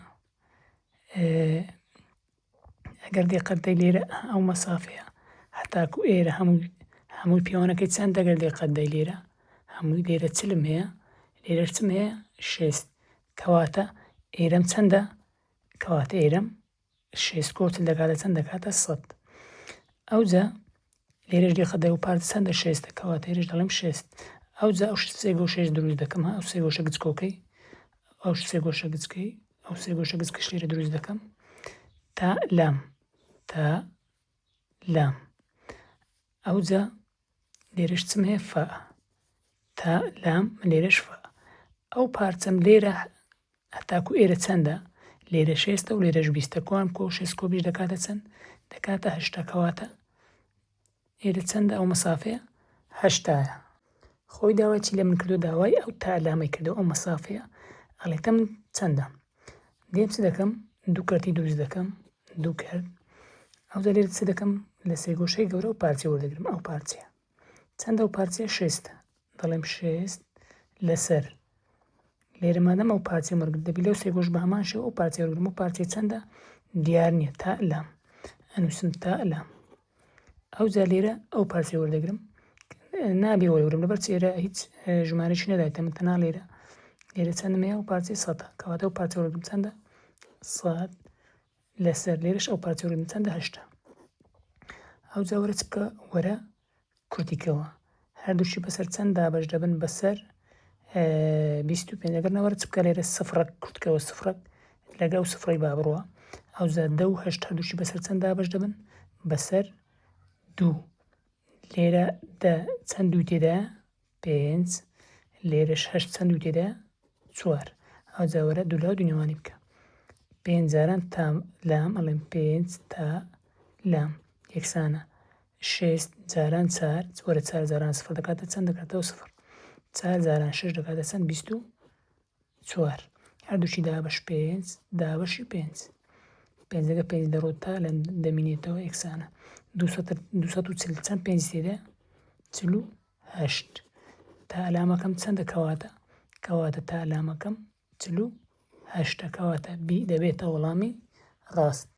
ئەگەر دێقەتدەی لێرە ئەو مەسافەیە هەتاکو ئێرە هەموو هەمووی پێوانەکەی چەند دەگەر دێقەتدەی لێرە هەمووی لێرە چلم هەیە لێرە چم هەیە شێست کەواتە ئێرەم چەندە کەواتە ئێرەم شێست کۆتل دەکاتە چەند دەکاتە سەد ئەوجا لێرەش دێخە دە و پارت چەندە شێستە کەواتە هێرش دەڵێم شێست ئەوجا ئەو سێ گۆشێش دروست دەکەم ها ئەو سێ گۆشە گچکۆکەی ئەو سێ گۆشە گچکەی ئەو سێ گۆشە گچ کەش لێرە دروست دەکەم تا لام تا لام ئەوجا لێرەش چم هەیە فا تا لام لێرەش فا ئەو پارچەم لێرە هەتاکو ئێرە چەندە لێرە شێستە و لێرەش بیستە کۆم کۆ شێست کۆ بیش دەکاتە چەند دەکاتە هەشتا کەواتە ئێرە چەندە ئەو مەسافەیە هەشتایە خۆی داواچی لە من کردو داوای ئەو تا لامەی کردو ئەو مەسافەیە ئەڵێتە من چەندە دێم چ دەکەم دوو کەرتی دروست دەکەم دوو کەرت ئەو دەلێت چ دەکەم لە سێگۆشەی گەورە و پارچە وەردەگرم ئەو پارچەیە چەندە و پارچە شێستە دەڵێم شێست لەسەر لێرە مادەم ئەو پارچە مەرگ دەبی لەو سێگۆش بە هەمان شێ ئەو پارچە وەرگرم و پارچەی چەندە دیار نییە تا لام ئەنووسم تا لام ئەوجا لێرە ئەو پارچەی وەردەگرم نابێ وەرگرم لەبەر چێرە هیچ ژمارەش نەدایتە من تەنا لێرە لێرە چەندم هەیە و پارچەی سەدە کەواتە ئەو پارچە وەرگرم چەندە سەد لەسەر لێرەش ئەو پارچە وەرگرم چەندە هەشتا ئەو جاوەرە چکە وەرە کۆتیکەوە هەردووکی بەسەر چەند دابەش دەبن بەسەر بیست و پێنج ئەگەر نەوەرە چ بکە لێرە سفرەک کورتکەوە سفرەک لەگە ئەو سفرەی با بڕوە ئەوزا دە و هەشت هەردووکی بەسەر چەند دابەش دەبن بەسەر دوو لێرە دە چەند دوو تێدا پێنج، لێرەش هەشت چەند دوو تێدایە؟ چوار. ئەوجا وەرە دوو لاو دوو نێوانی بکە. پێنج جاران تا لام ئەڵێم پێنج تا لام یەکسانە. شێست جاران چار وەرە چار جاران سفر دەکاتە چەند دەکاتەوە سفر. چار جاران شش دەکاتە چەند بیست و چوار هەردووکی دابەش پێنج دابەشی پێنج پێنجەکە پێنج دەڕۆ تا لە دەمینێتەوە یەکسانە دو سەد و چل چەند پێنج تێدا چل و هەشت تا ئەلامەکەم چەندە کەواتە کەواتە تا ئەلامەکەم چل و هەشتە کەواتە بی دەبێتە وەڵامی ڕاست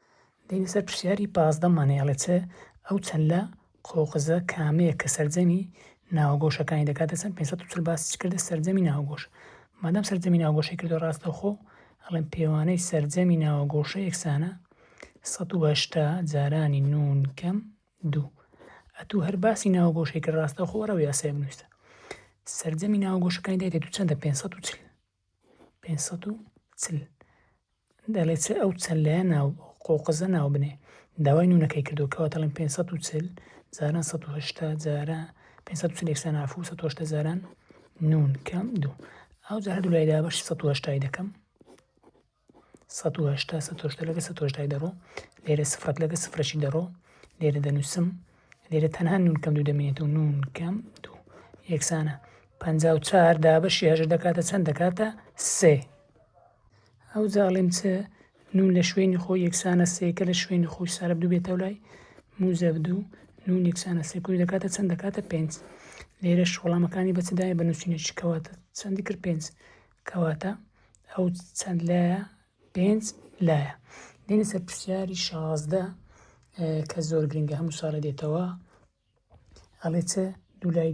دێینە سەر پرسیاری پازدە مانێ ئەڵێ چ ئەو چەلە قۆقزە کامەیە کە سەرجەمی ناوەگۆشەکانی دەکاتە چەند پێنج سەد و چل باسی کردە سەرجەمی ناوەگۆش مادام سەرجەمی ناوەگۆشەی کردە ڕاستەوخۆ ئەڵێن پێوانەی سەرجەمی ناوەگۆشە یەکسانە سەد و هەشتا جارانی نون کەم دوو ئەتوو هەر باسی ناوەگۆشەی کە ڕاستەوخۆ وەرەو یاسای بنووسە سەرجەمی ناوەگۆشەکانی دایتێ دوو چەندە پێنج سەد و چل پێنج سەد و چل دەڵێ چ ئەو چەند لایە ناو قۆقزە ناو بنێ داوای نونەکەی کردو کەەوە تەڵێن پێنج سەد و چل جاران سەد و هەشتا جارە پێنج سەد و چل یەکسان عفو سەد و هەشتا جاران نون کەم دوو ئەو جارە دوو لای دابەشی سەد و هەشتای دەکەم سەد و هەشتا سەد و هەشتا لەگەڵ سەد و هەشتای دەڕۆ لێرە سفرەک لەگەڵ سفرەکی دەڕۆ لێرە دەنووسم لێرە تەنها نون کەم دوو دەمێنێتەوە نون کەم دوو یەکسانە پەنجا و چار دابەشی هەژر دەکاتە چەند دەکاتە سێ ئەو جاڵیم چ نون لە شوێنی خۆی یەکسانە سێکە لە شوێنی خۆی سارە دوو بێتەوە لای موزە دوو نون یەکسانە سێکوی دەکاتە چەند دەکاتە پێنج لێرە شوڵامەکانی بەچدایە بە نووسینەکەواتە چەندی کرد پێنج کەواتە ئەو چەند لایە پێنج لایە دێنە سەر پرسیاری شازدە کە زۆر گرنگە هەموو ساڵە دێتەوە ئەڵێ چ دوو لای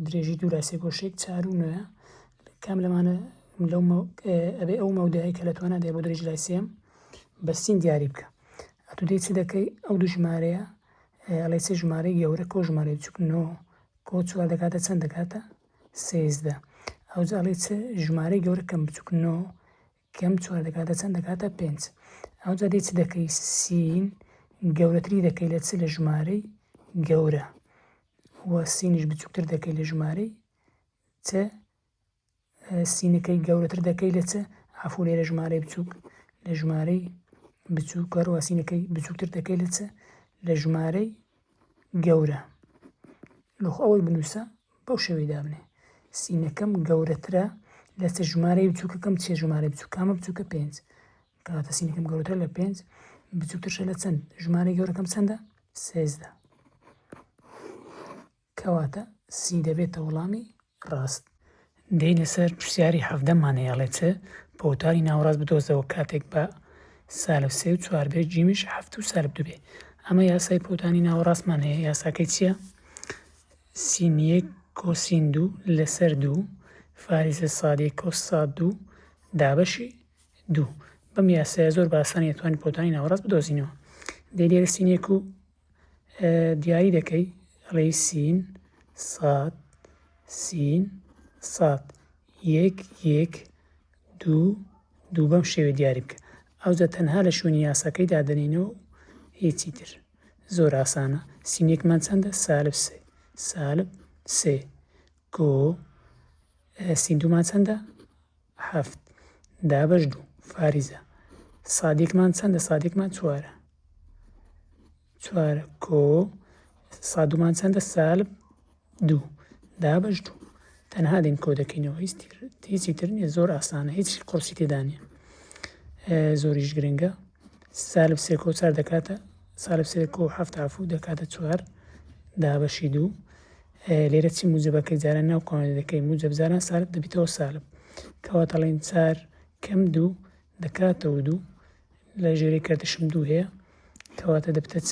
درێژی دوو لاسێ گۆشێک چار و نوێە کام لەمانە لەو ئەبێ ئەو مەودایی کە لە تۆ نادێ بۆ درێژ لای سێم بەسین دیاری بکە ئەتو دێ چ دەکەی ئەو دوو ژمارەیە ئەڵێ چ ژمارەی گەورە کۆ ژمارە چکن و بۆ چوار دەکاتە چەند دەکاتە سێزدە ئەوجا ئەڵێ چ ژمارەی گەورە کەم بچووک نۆ کەم چوار دەکاتە چەند دەکاتە پێنج ئەوجا دێ چ دەکەی سین گەورەتری دەکەی لە چ لە ژمارەی گەورە وە سینیش بچووکتر دەکەی لە ژمارەی چ سینەکەی گەورەتر دەکەی لە چ عەفو لێرە ژمارەی بچووک لە ژمارەی بچووک هەروە سینەکەی بچووکتر دەکەی لە چ لە ژمارەی گەورە لۆخ ئەوەی بنووسە بەو شێوەی دابنێ سینەکەم گەورەترە لە چ ژمارەی بچووکەکەم چێ ژمارە بچووکامە بچووکە پێنج کەواتە سینەکەم گەورەتر لە پێنج بچووکترشە لە چەند ژمارەی گەورەکەم چەندە سێزدە کەواتە سی دەبێتە وڵامی ڕاست. دەی لەسەر پرسیاری حەڤدە مان هەیە ئەڵێ چ؟ پۆوتاری ناوەڕاست بدۆزەوە کاتێک بە، سالب سێ و چوار، بێ جیمیش حەفت و سالب دوو بێ. ئەمە یاسای پۆوتانی ناوەڕاستمان هەیە یاساکەی چیە؟ سین یەک کۆسین دوو لەسەر دوو فاریزە ساد یەک کۆس ساد دوو دابەشی دوو بەم یاسایە زۆر بە ئاسانی ئەتوانین پۆوتانی ناوەڕاست بدۆزینەوە. دەی لێرە سین یەک و دیاری دەکەی ڕێی سین ساد سین ساد یەک یەک دوو دوو بەم شێوێ دیاری بکە ئەوجا تەنها لە شوێنی یاساکەی دادەنینەوە و هیچی تر زۆر ئاسانە سینێکمان چەندە سالب سێ سالب سێ گۆ سیندومان چەندە هەفت، دابەش دوو، فاریزە. سادێکمان چەندە؟ سادێکمان چوارە. چوار کۆ سادومان چەندە سالب دوو دابش دوو تەنها دین کۆ دەکەینەوە هیچی تر نیە زۆر ئاسانە هیچ قڕسی تێدانە زۆریش گرنگە سالب سێ کۆ چار دەکاتە سالب سێ کۆ هەفت عفو دەکاتە چوار دابەشی دوو لێرە چی موجەبە کە جاران ناو قوانین دەکەین موجەب جاران سالب دەبیتەوە سالب کەوا دەڵێن چار کەم دوو دەکاتەوە دوو لە ژێری کردشم دوو هەیە کەواتە دەبتە چ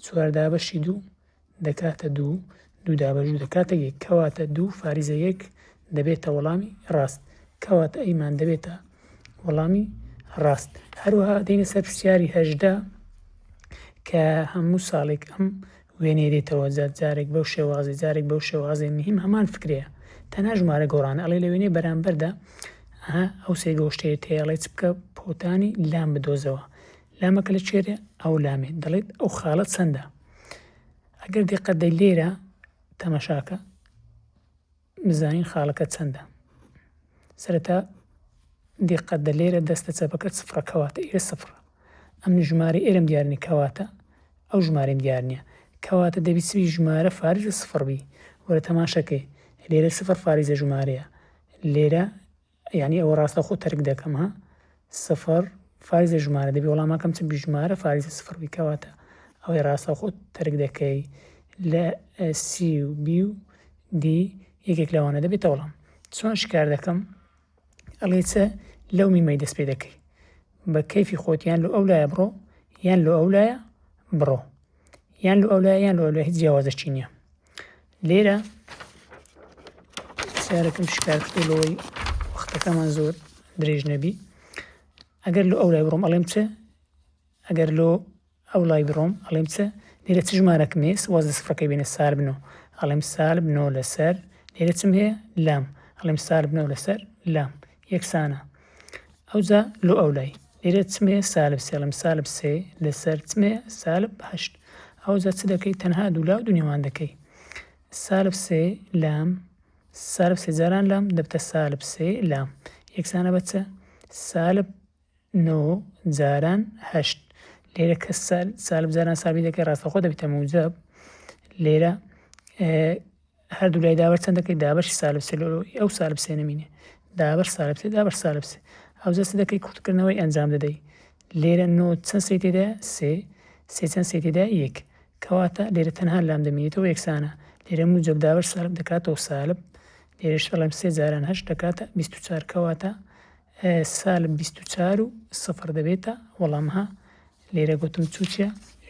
چواردا بەشی دوو دەکاتە دوو دوو دابەژوو دەکاتە یەک کەواتە دوو فاریزە یەک دەبێتە وەڵامی ڕاست کەواتە ئەیمان دەبێتە وەڵامی ڕاست هەروەها دەینە سەر پرسیاری هەژدا کە هەموو ساڵێک ئەم وێنەی دێتەوە جار جارێک بەو شێوازەی جارێک بەو شێوازەی مهیم هەمان فکرەیە تەنها ژمارە گۆڕانە ئەڵێ لە وێنەی بەرامبەردا ئەها ئەو سێ گۆشتەیە تێ ئەڵێ چ بکە پۆتانی لام بدۆزەوە لامەکە لە چێرێ ئەو لامێ دەڵێت ئەو خاڵە چەندە ئەگەر دقت دەی لێرە تەمەشاکە بزانین خاڵەکە چەندە سەرەتا دیقەت دە لێرە دەستە چەپەکەت سفرە کەواتە ئێرە سفرە ئەم ژمارە ئێرەم دیارنی کەواتە ئەو ژمارەم دیار نییە کەواتە دەبی سوی ژمارە فارزە سفر بی وەرە تەماشەکەی لێرە سفر فاریزە ژمارەیە لێرە یانی ئەوە ڕاستە خۆ تەرک دەکەم ها سفر فایزە ژمارە دەبی وەڵامەکەم چ بژمارە فاریزە سفر بی کەواتە ئەوەی ڕاستە خۆ تەرک دەکەی لە سی و بی و دی یەکێک لەوانە دەبێتە وەڵام چۆن شکار دەکەم ئەڵێ چە لەو میمەی دەست پێ دەکەی بە کەیفی خۆتیان لە ئەو لایە بڕۆ یان لە ئەو لایە بڕۆ یان لە ئەو لایە یان لە ئەو لای هیچ جیاوازەشی نییە لێرە سیارەکەم شکار کردو لەوەی وەختەکەمان زۆر درێژ نەبی ئەگەر لە ئەو لای بڕۆم ئەڵێم چ ئەگەر لۆ ئەو لای بڕۆم ئەڵێم چ لێرە چ ژمارەکم هەیە سواز لە سفرەکەی بێنە سار بنۆ ئەڵێم سار بنۆ لەسەر لێرە چم هەیە لام ئەڵێم سار بنۆ لەسەر لام یەکسانە ئەوجا لۆ ئەولای لێرە چ مێ سالب سێ ئەڵێم سالب سێ لەسەر چ مێ سالب هەشت ئەوجا چ دەکەی تەنها دوو لا و دوو نێوان دەکەی سالب سێ لام سالب سێ جاران لام دەبتە سالب سێ لام یەکسانە بە چ سالب نۆ جاران هەشت لێرە کە سال سالب جاران سابی دەکەی ڕاستەخۆ دەبیتە موجب لێرە هەردوو لای دابەر چەند دەکەی دابەشی سالب سێ ئەو سالب سێ نمینێ دابەر سالب سێ دابەر سالب سێ ئەو جەست دەکەی کورتکردنەوەی ئەنجام دەدەی لێرە نۆ چەند سێ تێدا سێ سێ چەند سێ تێدا یەک کەواتە لێرە تەنها لام دەمینێتەوە یەکسانە لێرە موجب دابەر سالب دەکاتەوە سالب لێرەش دەڵێم سێ جاران هەشت دەکاتە بیست و چار کەواتە سالب بیست و چوار و سفر دەبێتە وەڵام ها لێرە گوتم چوچە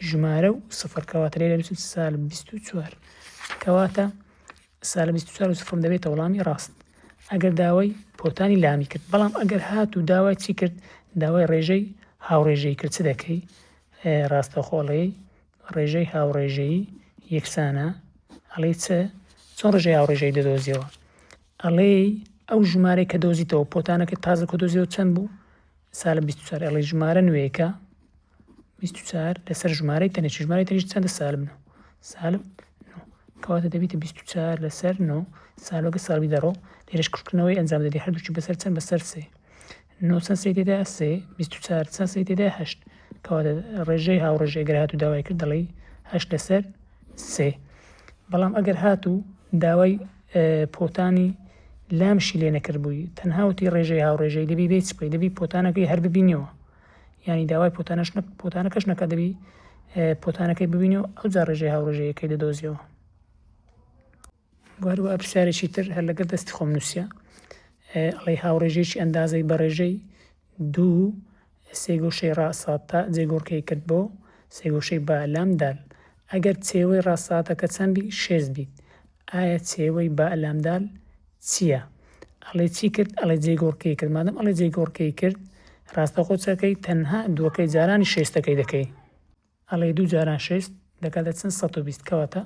ژمارە و سفر کەواتە لێرە بچم سالب بیست و چوار کەواتە سالب بیست و چوار و سفرم دەبێتە وەڵامی ڕاست ئەگەر داوای پۆتانی لامی کرد بەڵام ئەگەر هات و داوای چی کرد داوای ڕێژەی هاوڕێژەی کرد چ دەکەی ڕاستەخۆڵەی ڕێژەی هاوڕێژەیی یەکسانە ئەڵێی چ چۆن ڕێژەی هاوڕێژەی دەدۆزیەوە ئەڵێی ئەو ژمارەی کە دۆزیتەوە پۆتانەکە تازە کە دۆزیەوە چەند بوو سالە 24 ئەڵێ ژمارە نوێیەکە 24 لەسەر ژمارەی تەنێ ژمارەی تەنیش چەندە سالب نە سالب کەواتە دەبیتە 24 لەسەر نۆ سالۆگە ساڵی دەڕۆ لێرش کردنەوەی ئەنجام دەدی هەردووچی بەسەر چەند بەسەر سێ نۆ چەند سەی تێدا سێ بیست و چوار چەند سەی تێدا هەشت کەواتە ڕێژەی هاوڕێژەی گەر هاتوو داوای کرد دەڵی هەشت لەسەر سێ بەڵام ئەگەر هاتوو داوای پۆتانی لامشی لێ نەکرد بووی تەنهاوتی ڕێژەی هاوڕێژەی دەبی بێت چپی دەبی پۆتانەکەی هەر ببینەوە ینی داوای پۆتانش پۆتانەکەش نەکە دەبی پۆتانەکەی ببینی و ئەو جا ڕێژەی هاوڕێژەیەکەی دەدۆزیەوە و هەروەها پرسیارێکی تر هەر لەگەر دەستی خۆم نووسیە ئەڵێ هاوڕێژێکی ئەندازەی بەڕێژەی دوو سێ گۆشەی ڕاساتە جێگۆڕکەی کرد بۆ سێ گۆشەی با لام دال ئەگەر چێوەی ڕاساتەکە چەند بی شێز بیت ئایا چێوەی با لام دال چییە ئەڵێ چی کرد ئەڵێ جێگۆڕکەی کرد مادەم ئەڵێ جێگۆڕکەی کرد ڕاستەخۆ چەکەی تەنها دووەکەی جارانی شێستەکەی دەکەی ئەڵێی دوو جاران شێست دەکاتە چەند سەد و بیست کەواتە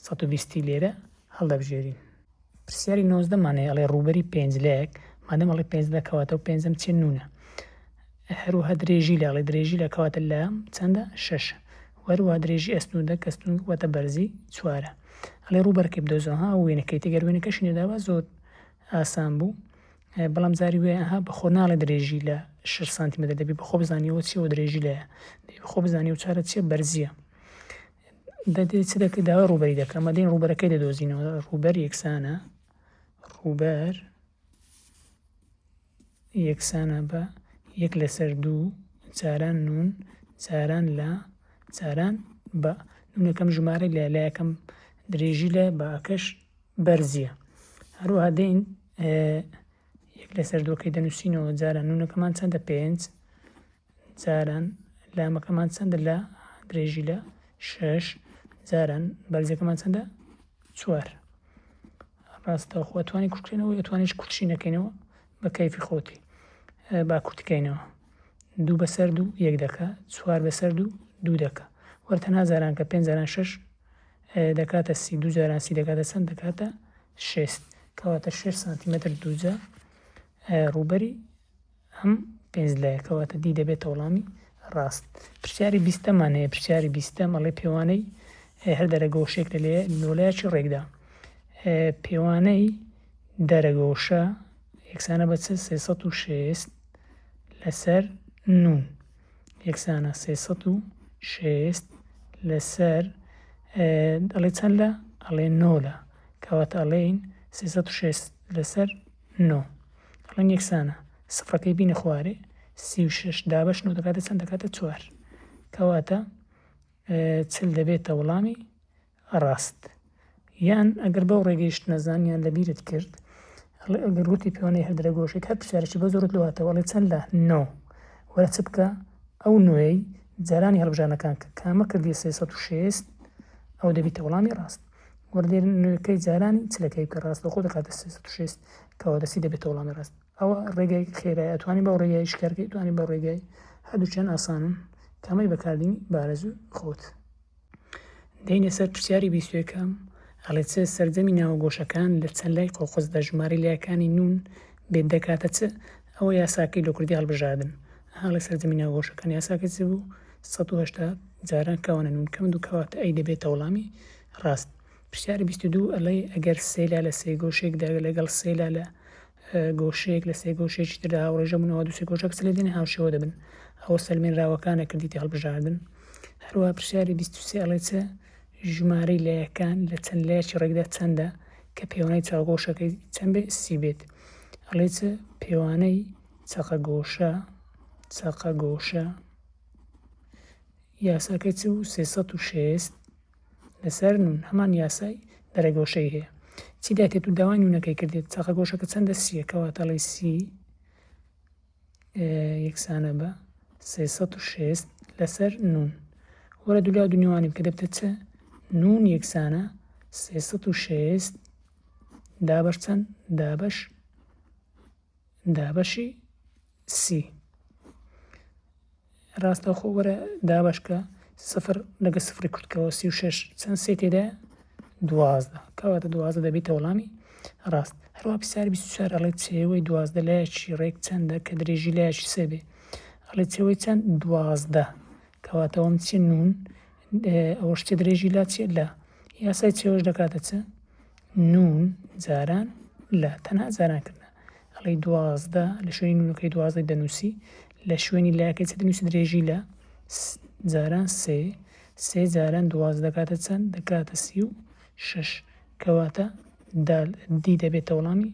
سەد و بیستی لێرە هەڵدەبژێرین. پرسیاری نۆزدە مان هەیە ئەڵێ ڕووبەری پێنجلەیەک مادەم ئەڵێ پێنجلە کەواتە ئەو پێنجەم چیە نوونە هەروەها درێژی لە ئەڵێ درێژی لە کەواتە لە چەندە شەشە وەروە درێژی ئەستنودە کەستون وەتە بەرزی چوارە ئەڵێ ڕووبەرکەی بدۆزەوە ها وێنەکەی تێگەر وێنەکەشی نەداوە زۆر ئاسان بوو بەڵام جاری وێ ئەها بە خۆ ناڵێ درێژی لە شش سانتیمەتر دەبی بە خۆ بزانیەوە چیەوە درێژی لەیە دەی بە خۆ بزانانی و چارە چیە بەرزیە دەدێت چ دەکە داوای ڕوبەری دەکەم مەدەین ڕوبەرەکەی دەدۆزینەوە ڕوبەر یەکسانە ڕوبەر یەکسانە بە یەک لەسەر دوو جاران نون جاران لە جاران بە نونەکەم ژمارە لە لایەکەم درێژی لە بەکەش بەرزیە هەروها دەین ئێ یەک لەسەر دووەکەی دەنووسینەوە جاران نوونەکەمان چەندە پێنج جاران لامەکەمان چەندە لە درێژی لە شەش جاران بەرزەکەمان چەندە چوار ڕاستە خۆ توانی کوشتێنەوە توانیش کوچینەکەینەوە بە کەیفی خۆتی با کورتکەینەوە دوو بەسەر دوو یەک دەکە چوار بەسەر دوو دوو دەکە وەرتە نازاران کە پێنجاران شش دەکاتە سی دوو جاران سی دەکاتە چەند دەکاتە شێست کەواتە شێش سانتیمەتر دووجا ڕووبەری ئەم پێنج لایە کەواتە دی دەبێتە وڵامی ڕاست پرسیاری بیستەمان هەیە پرسیاری بیستە مەڵێ پێوانەی هەر دەرەگۆشێک لە لێ نۆلایکی ڕێکدا پێوانەی دەرەگۆشە یەکسانە بە چ سێسە و شێست لەسەر نون یەکسانە سێ سەد و شێست لەسەر ئەڵێ چەند لە ئەڵێ نۆ لە کەواتە ئەڵێین سێ سەد و شێست لەسەر نۆ ئەڵێن یەکسانە سفرەکەی بینە خوارێ سی و شش دابش نۆ دەکاتە چەند دەکاتە چوار کەواتە چل دەبێتە وڵامی ڕاست یان ئەگەر بەو ڕێگەیشت نەزان یان لەبیرت کرد ئەڵێ ئەگەر وتی پێوانەی هەر درە گۆشەی هەر پرسیارێکی بە زۆرت لۆ هاتەوە ئەڵێ چەند لە نۆ وەرە چ بکە ئەو نۆیەی جارانی هەڵبژارنەکان کە کامە کردی سێ سەد و شێست ئەو دەبیتە وەڵامی ڕاست وەردێر نوێکەی جارانی چلەکەی کە ڕاست لەخۆ دەکاتە سێ سەد و شێست کەەوە دەستی دەبێتە وەڵامی ڕاست ئەوە ڕێگای خێرای ئەتوانی بەو ڕێگای شکارکەی توانی بە ڕێگای هەردووچیان ئاسانن کامەی بەکاردینی بارەزوو خۆت دێینە سەر پرسیاری بیست و یەکەم ئەڵێ چ سەرجەمی ناوە گۆشەکان لە چەند لای قۆقز دە ژمارەی لایەکانی نون بێت دەکاتە چ ئەوە یاساکەی لە کوردی هەڵبژاردن هەڵێ سەرجەمی ناوە گۆشەکان یاساکە چ بوو 1970 جاران کەوانە نون کەم دوو کەواتە ئەی دەبێتە وەڵامی ڕاست پرسیاری بیست و دوو ئەڵێ ئەگەر سێلا لە سێ گۆشێکدا لەگەڵ سێلا لە گۆشەیەک لە سێ گۆشەیەکی تردا هاوڕێژە بوون، ئەوا دووسێ گۆشە کەسە لێدێنێ هاوشێوە دەبن. ئەوە سەلمێنراوەکانە کردیتی هەڵبژاردن. هەروەها پرسیاری بیست و سێ ئەڵێ چ ژمارەی لایەکان لە چەند لایەکی ڕێکدا چەندە کە پێوانەی چاوگۆشەکەی چەند بێ سی بێت ئەڵێ چ پێوانەی چەقە گۆشە چەقە گۆشە یاساکەی چ و سێسەد و شێست لەسەر نون هەمان یاسای دەرەگۆشەی هەیە چی دەکرێت و داوای نونەکەی کردێت چاقە گۆشەکە چەندە سیە کەواتەڵی سی یەکسانە بە 360 لەسەر نون وەرە دولا دونیوانی بکە دەبتە چە نون یەکسانە 360 دابەش چەند دابەش دابەشی سی ڕاستەوخۆ وەرە دابشکە سفر لەگە سفری کورتکەوە سی و شش چەند سێ تێدا دوازدە کەواتە دوازدە دەبیتە وڵامی ڕاست هەروە پسار بیسوچار ئەڵێ چێوەی دوازدە لایەکی ڕێک چەندە کە درێژی لایەکی سێبێ ئەڵێ چێوەی چەند دوازدە کەواتەوەم چی نون ئەوە شتێ درێژی لا چێ لە یاسای چێوەش دەکاتە چ نون جاران لە تەنها جاران کردە ئەڵێی دوازدە لە شوێنی نونەکەی دوازدەی دەنووسی لە شوێنی لەکەی چ دەنووسی درێژی لە جاران سێ سێ جاران دوازدە دەکاتە چەند دەکاتە سی و شش کەواتە دال دی دەبێتە وڵامی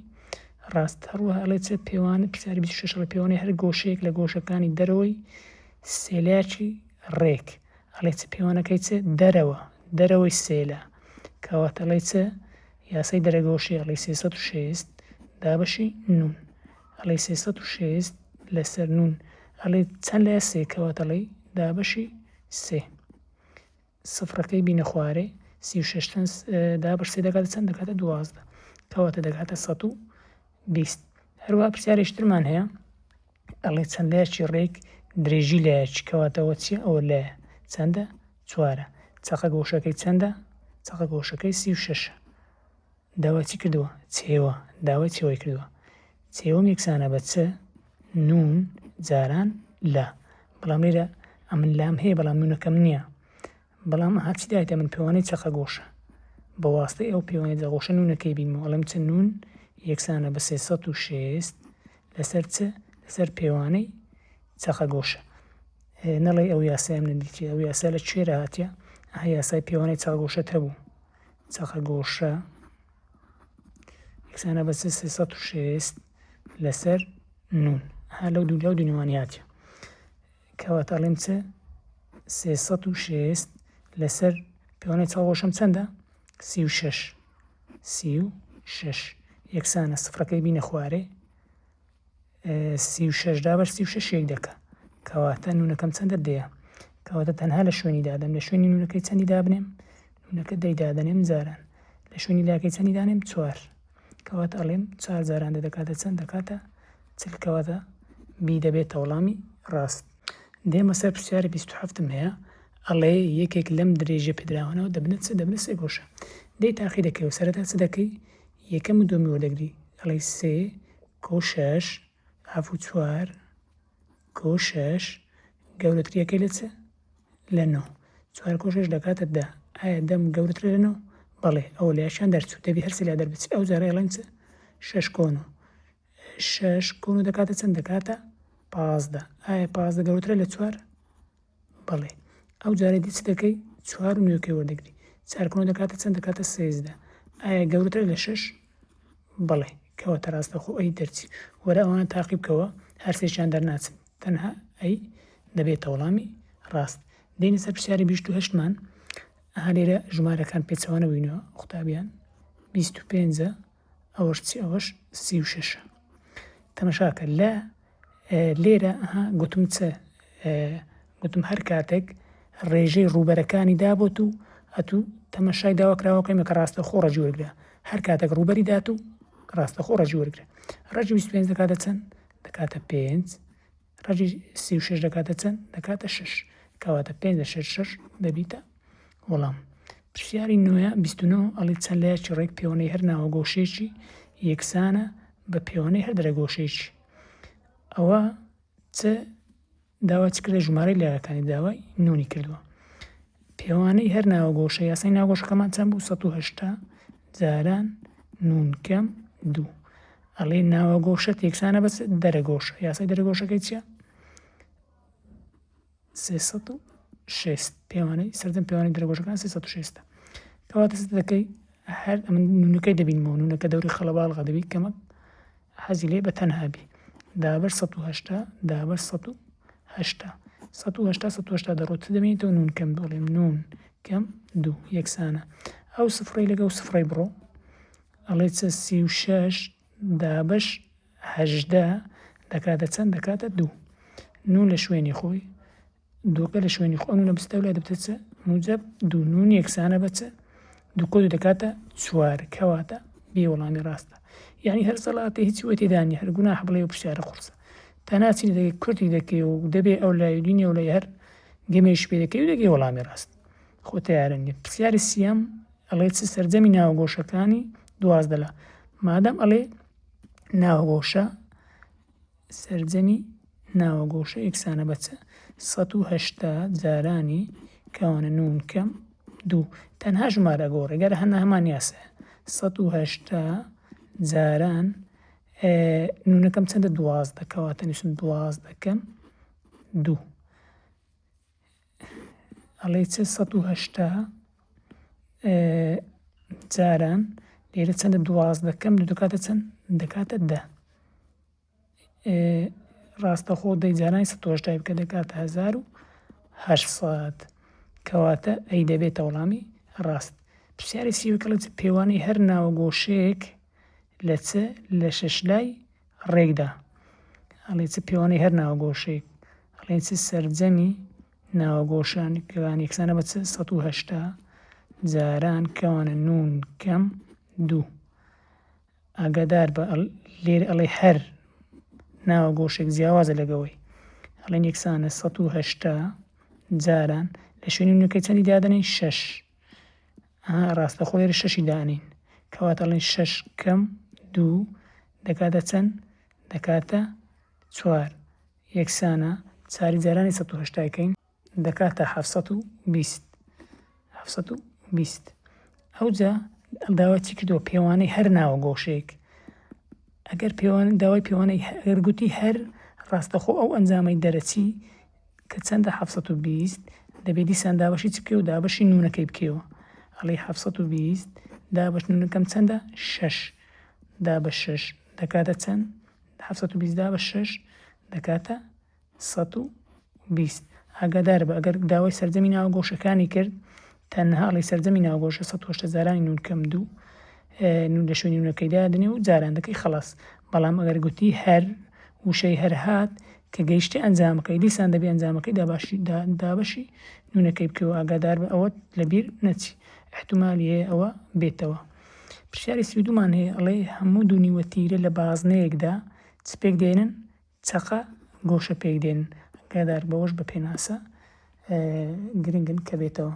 ڕاست هەروە هەڵێ چ پێوانە پرسیاری 26 ڕێ پێوانەی هەر گۆشەیەک لە گۆشەکانی دەرەوەی سێلاکی ڕێک ئەڵێ چ پێوانەکەی چ دەرەوە دەرەوەی سێلا کەواتەڵی چ یاسای دەرەگۆشی ەڵی سێ سەد و شێست دابەشی نون ەڵی سێ سەد و شێست لەسەر نون ەڵی چەند لە سێ کەواتەڵی دابەشی سێ سفرەکەی بینە خوارێ سی و شەش چەند دابش سێ دەکاتە چەند دەکاتە دوازدە کەواتە دەکاتە سەد و بیست هەروە پرسیارێکترمان هەیە ئەڵێ چەند لەیەکی ڕێک درێژی لەیەکی کەواتە ئەوە چییە ئەوە لەیە چەندە چوارە چەقە گۆشەکەی چەندە چەقە گۆشەکەی سی و شەشە داوا چی کردووە چێوە داوای چێوەی کردووە چێوەم یەکسانە بە چ نون جاران لا بەڵام لێرە ئەمن لام هەیە بەڵام نونەکەم نییە بەڵام ئەها چی دایتە من پێوانەی چەقە گۆشە بە واستەی ئەو پێوانەی دەغۆشە نوونەکەی بینمەوە ئەڵێم چ نوون یەکسانە بە سێ سەد و شێست لەسەر چ لەسەر پێوانەی چەقە گۆشە نەڵێ ئەو یاسای من دیتی ئەو یاسا لە کوێرە هاتیە ئەها یاسای پێوانەی چەقە گۆشەت هەبوو چەقە گۆشە یەکسانە بە سێ سەد و شێست لەسەر نوون ها لەو دوو لەو دونیوانیاتە کەواتە ئەڵێم چ سێ سەد و شێست لەسەر پێوانەی چاوەشم چەندە سی و شەش سی و شەش یەکسانە سفرەکەی بینە خوارێ سی و شەش دابەر سی و شەش یەک دەکە کەواتە نونەکەم چەندە دەیە کەواتە تەنها لە شوێنی دادەم لە شوێنی نونەکەی چەندی دابنێم نونەکە دەی دادەنێم جاران لە شوێنی لاکەی چەندی دانێم چوار کەواتە ئەڵێم چار جاران دە دەکاتە چەند دەکاتە چل کەواتە بی دەبێتە وەڵامی ڕاست دێمە سەر پرسیاری بیست هەفتم هەیە ئەڵێ یەکێک لەم درێژە پێدراوانەوە دەبنە چ دەبنە سێ گۆشە دەی تاقی دەکەی و سەرەتا چ دەکەی یەکەم و دومی وەردەگری ئەڵی سێ کۆ شەش هەف و چوار کۆ شەش گەورەتریەکەی لە چ لە نۆ چوار کۆ شەش دەکاتە دە ئایا دەم گەورەترە لە نۆ بەڵێ ئەو لەشان دەرچوو دەبی هەرسی لە دەربچی ئەو جارە ئەڵێن چ شەش کۆن و شەش کۆن و دەکاتە چەند دەکاتە پازدە ئایا پازدە گەورەترە لە چوار بەڵێ. ئەو جارەی دی چ دەکەی؟ چوار و نۆی کەی وەردەگری؟ چار کونۆ دەکاتە چەند؟ دەکاتە سێزدە. ئایا گەورەترە لە شەش؟ بەڵێ. کەواتە راستەوخۆ ئەی دەرچی. وەرە ئەوانە تاقی بکەوە، هەر سێکیان دەرناچن. تەنها ئەی دەبێتە وەڵامی راست. دێینە سەر پرسیاری بیست و هەشت مان. ئەها لێرە ژمارەکان پێچەوانە بووینەوە قوتابیان. بیست و پێنج ئەوەش چ ئەوەش سی و شەشە تەمەشاکە لە لێرە ها گوتم چ گوتم هەر کاتێک ڕێژەی ڕوبەرەکانی دابوت و ئەتوو تەمەشای داواکراوەکەمە کە ڕاستە خۆ ڕەجی وەرگرە هەر کاتێک ڕوبەری دات و ڕاستە خۆ ڕەجی وەرگرە ڕەجی 25 دەکاتە چەند دەکاتە پێنج ڕەجی سی و شەش دەکاتە چەند دەکاتە شش کەواتە پێنج لە شەش شەش دەبیتە وەڵام پرسیاری نوێە بیستنەوە ئەڵی چەند لایەکی ڕێک پێوەی هەر ناوە گۆشێکی یەکسانە بە پێوەی هەر درە گۆشێکی ئەوە چ داوا چ کردە ژمارەی لایەکانی داوای نونی کردووە پێوانەی هەر ناوەگۆشە یاسای ناوگۆشەکەمان چەند بوو سەد و هەشتا جاران نون کەم دوو ئەڵێ ناوەگۆشە تێکسانە بەس دەرەگۆشە یاسای دەرەگۆشەکەی چیە سێسەد و شێست پێوانەی سەردەم پێوانی دەرەگۆشەکان سێسەد و شێستە کەواتە دەکەی هەر ئەمن نونەکەی دەبینمەوە نونەکە دەوری خەڵەباڵغە دەبی کەمە حەزی لێ بەتەنها بی. دابەش سەد و هەشتا دابەش سەد و هەشتا سەد و هەشتا سەد و هەشتا دەڕۆت دەبینیتەوە نون کەم دەڵێم نون کەم دوو یەکسانە ئەو سفڕی لەگە و سفڕی بڕۆ ئەڵێ چە سی و شەش دابەش هەژدە دەکاتە چەند دەکاتە دوو نون لە شوێنی خۆی دووکە لە شوێنی خۆ نوونە بستە و لای دەبتە چ موجب دوو نون یەکسانە بە چ دووکۆ دوو دەکاتە چوار کەواتە بێ وەڵامی ڕاستە یعنی هەر سەڵاتە هیچ وە تێدانی هەر گونا حبڵێ و پرسیارە قورسە تا ناچی دەگە کورتی دەکەی و دەبێ ئەو لای دینی و لای هەر گەمێش پێ دەکەی و دەگەی وەڵامی ڕاست خۆ تیارە نیە پرسیاری سیام ئەڵێ چ سەرجەمی ناوگۆشەکانی دوازدە لە مادەم ئەڵێ ناوگۆشە سەرجەمی ناوە گۆشە یەکسانە بە چ؟ سەد و هەشتا جارانی کەوانە نوون کەم دوو تەنها ژمارە ئەگۆڕێ گەر هەنا هەمان یاسایە سەد و هەشتا جاران نونەکەم چەندە دوازدە کەواتە نووسم دوازدەکەم دوو ئەڵێی چ سەد و هەشتا جاران لێرە چەندە دوازدە کەم دەکاتە چەند دەکاتە دە ڕاستەخۆ دەی جارانی سەهشتای بکە دەکاتە هزار و هەشسەد کەواتە ئەی دەبێتە وەڵامی ڕاست پرسیاری سیوکڵت پێوانی هەر ناوە گۆشەیەک لە چ لە شش لای ڕێکدا. ئەڵێ چ پێوانەی هەر ناوەگۆشەیەک ئەڵێن چ سەرجەمی ناوەگۆشان کەوان یەکسانە بە چ سەد و هەشتا جاران کەوانە نون کەم دوو ئاگادار بە لێر ئەڵێ هەر ناوە گۆشێک جیاوازە لەگەوەی ئەڵێن یەکسانە سەد و هەشتا جاران لە شوێنی نوکە چەندی دادنین شەش ئەها ڕاستەخۆ لێرە شەشی دانین کەواتە ئەڵێن شەش کەم دوو دەکاتە چەند دەکاتە چوار یەکسانە چاری جارانی سە هشتاکەین دەکاتە ه بیست بیست ئەوجا داوا چی کردووە پێوانەی هەر ناوە گۆشێک ئەگەر پێوان داوای پێوانەی هەر گوتی هەر ڕاستەخۆ ئەو ئەنجامەی دەرەچی کە چەندە حەفت سەد و بیست دەبێ دیسان دابەشی چ بکەی و دابەشی نونەکەی بکەیەوە ئەڵی حەفت سەد و بیست دابەش نونەکەم چەندە شەش دابە شەش دەکاتە چەند حەفت سەد و بیست دابە شەش دەکاتە سەد و بیست ئاگادار بە ئەگەر داوای سەرجەمی ناوە گۆشەکانی کرد تەنها ئەڵێی سەرجەمی ناوگۆشە سەد هۆشتە جارانی نون کەم دوو نون لە شوێنی نونەکەیدا دەنێ و جاران دەکەی خەڵاس بەڵام ئەگەر گوتی هەر وشەی هەر هات کە گەیشتی ئەنجامەکەی دیسان دەبێ ئەنجامەکەی داباشی دابەشی نونەکەی بکەوە ئاگادار بە ئەوەت لەبیر نەچی احتمالی هەیە ئەوە بێتەوە پرسیاری سیدومان هەیە ئەڵێ هەموو دونیوە تیرە لە بازنەیەکدا چپێک دێنن چەقە گۆشە پێکدێن ئاگادار بەوەش بە پێناسە گرنگن کە بێتەوە.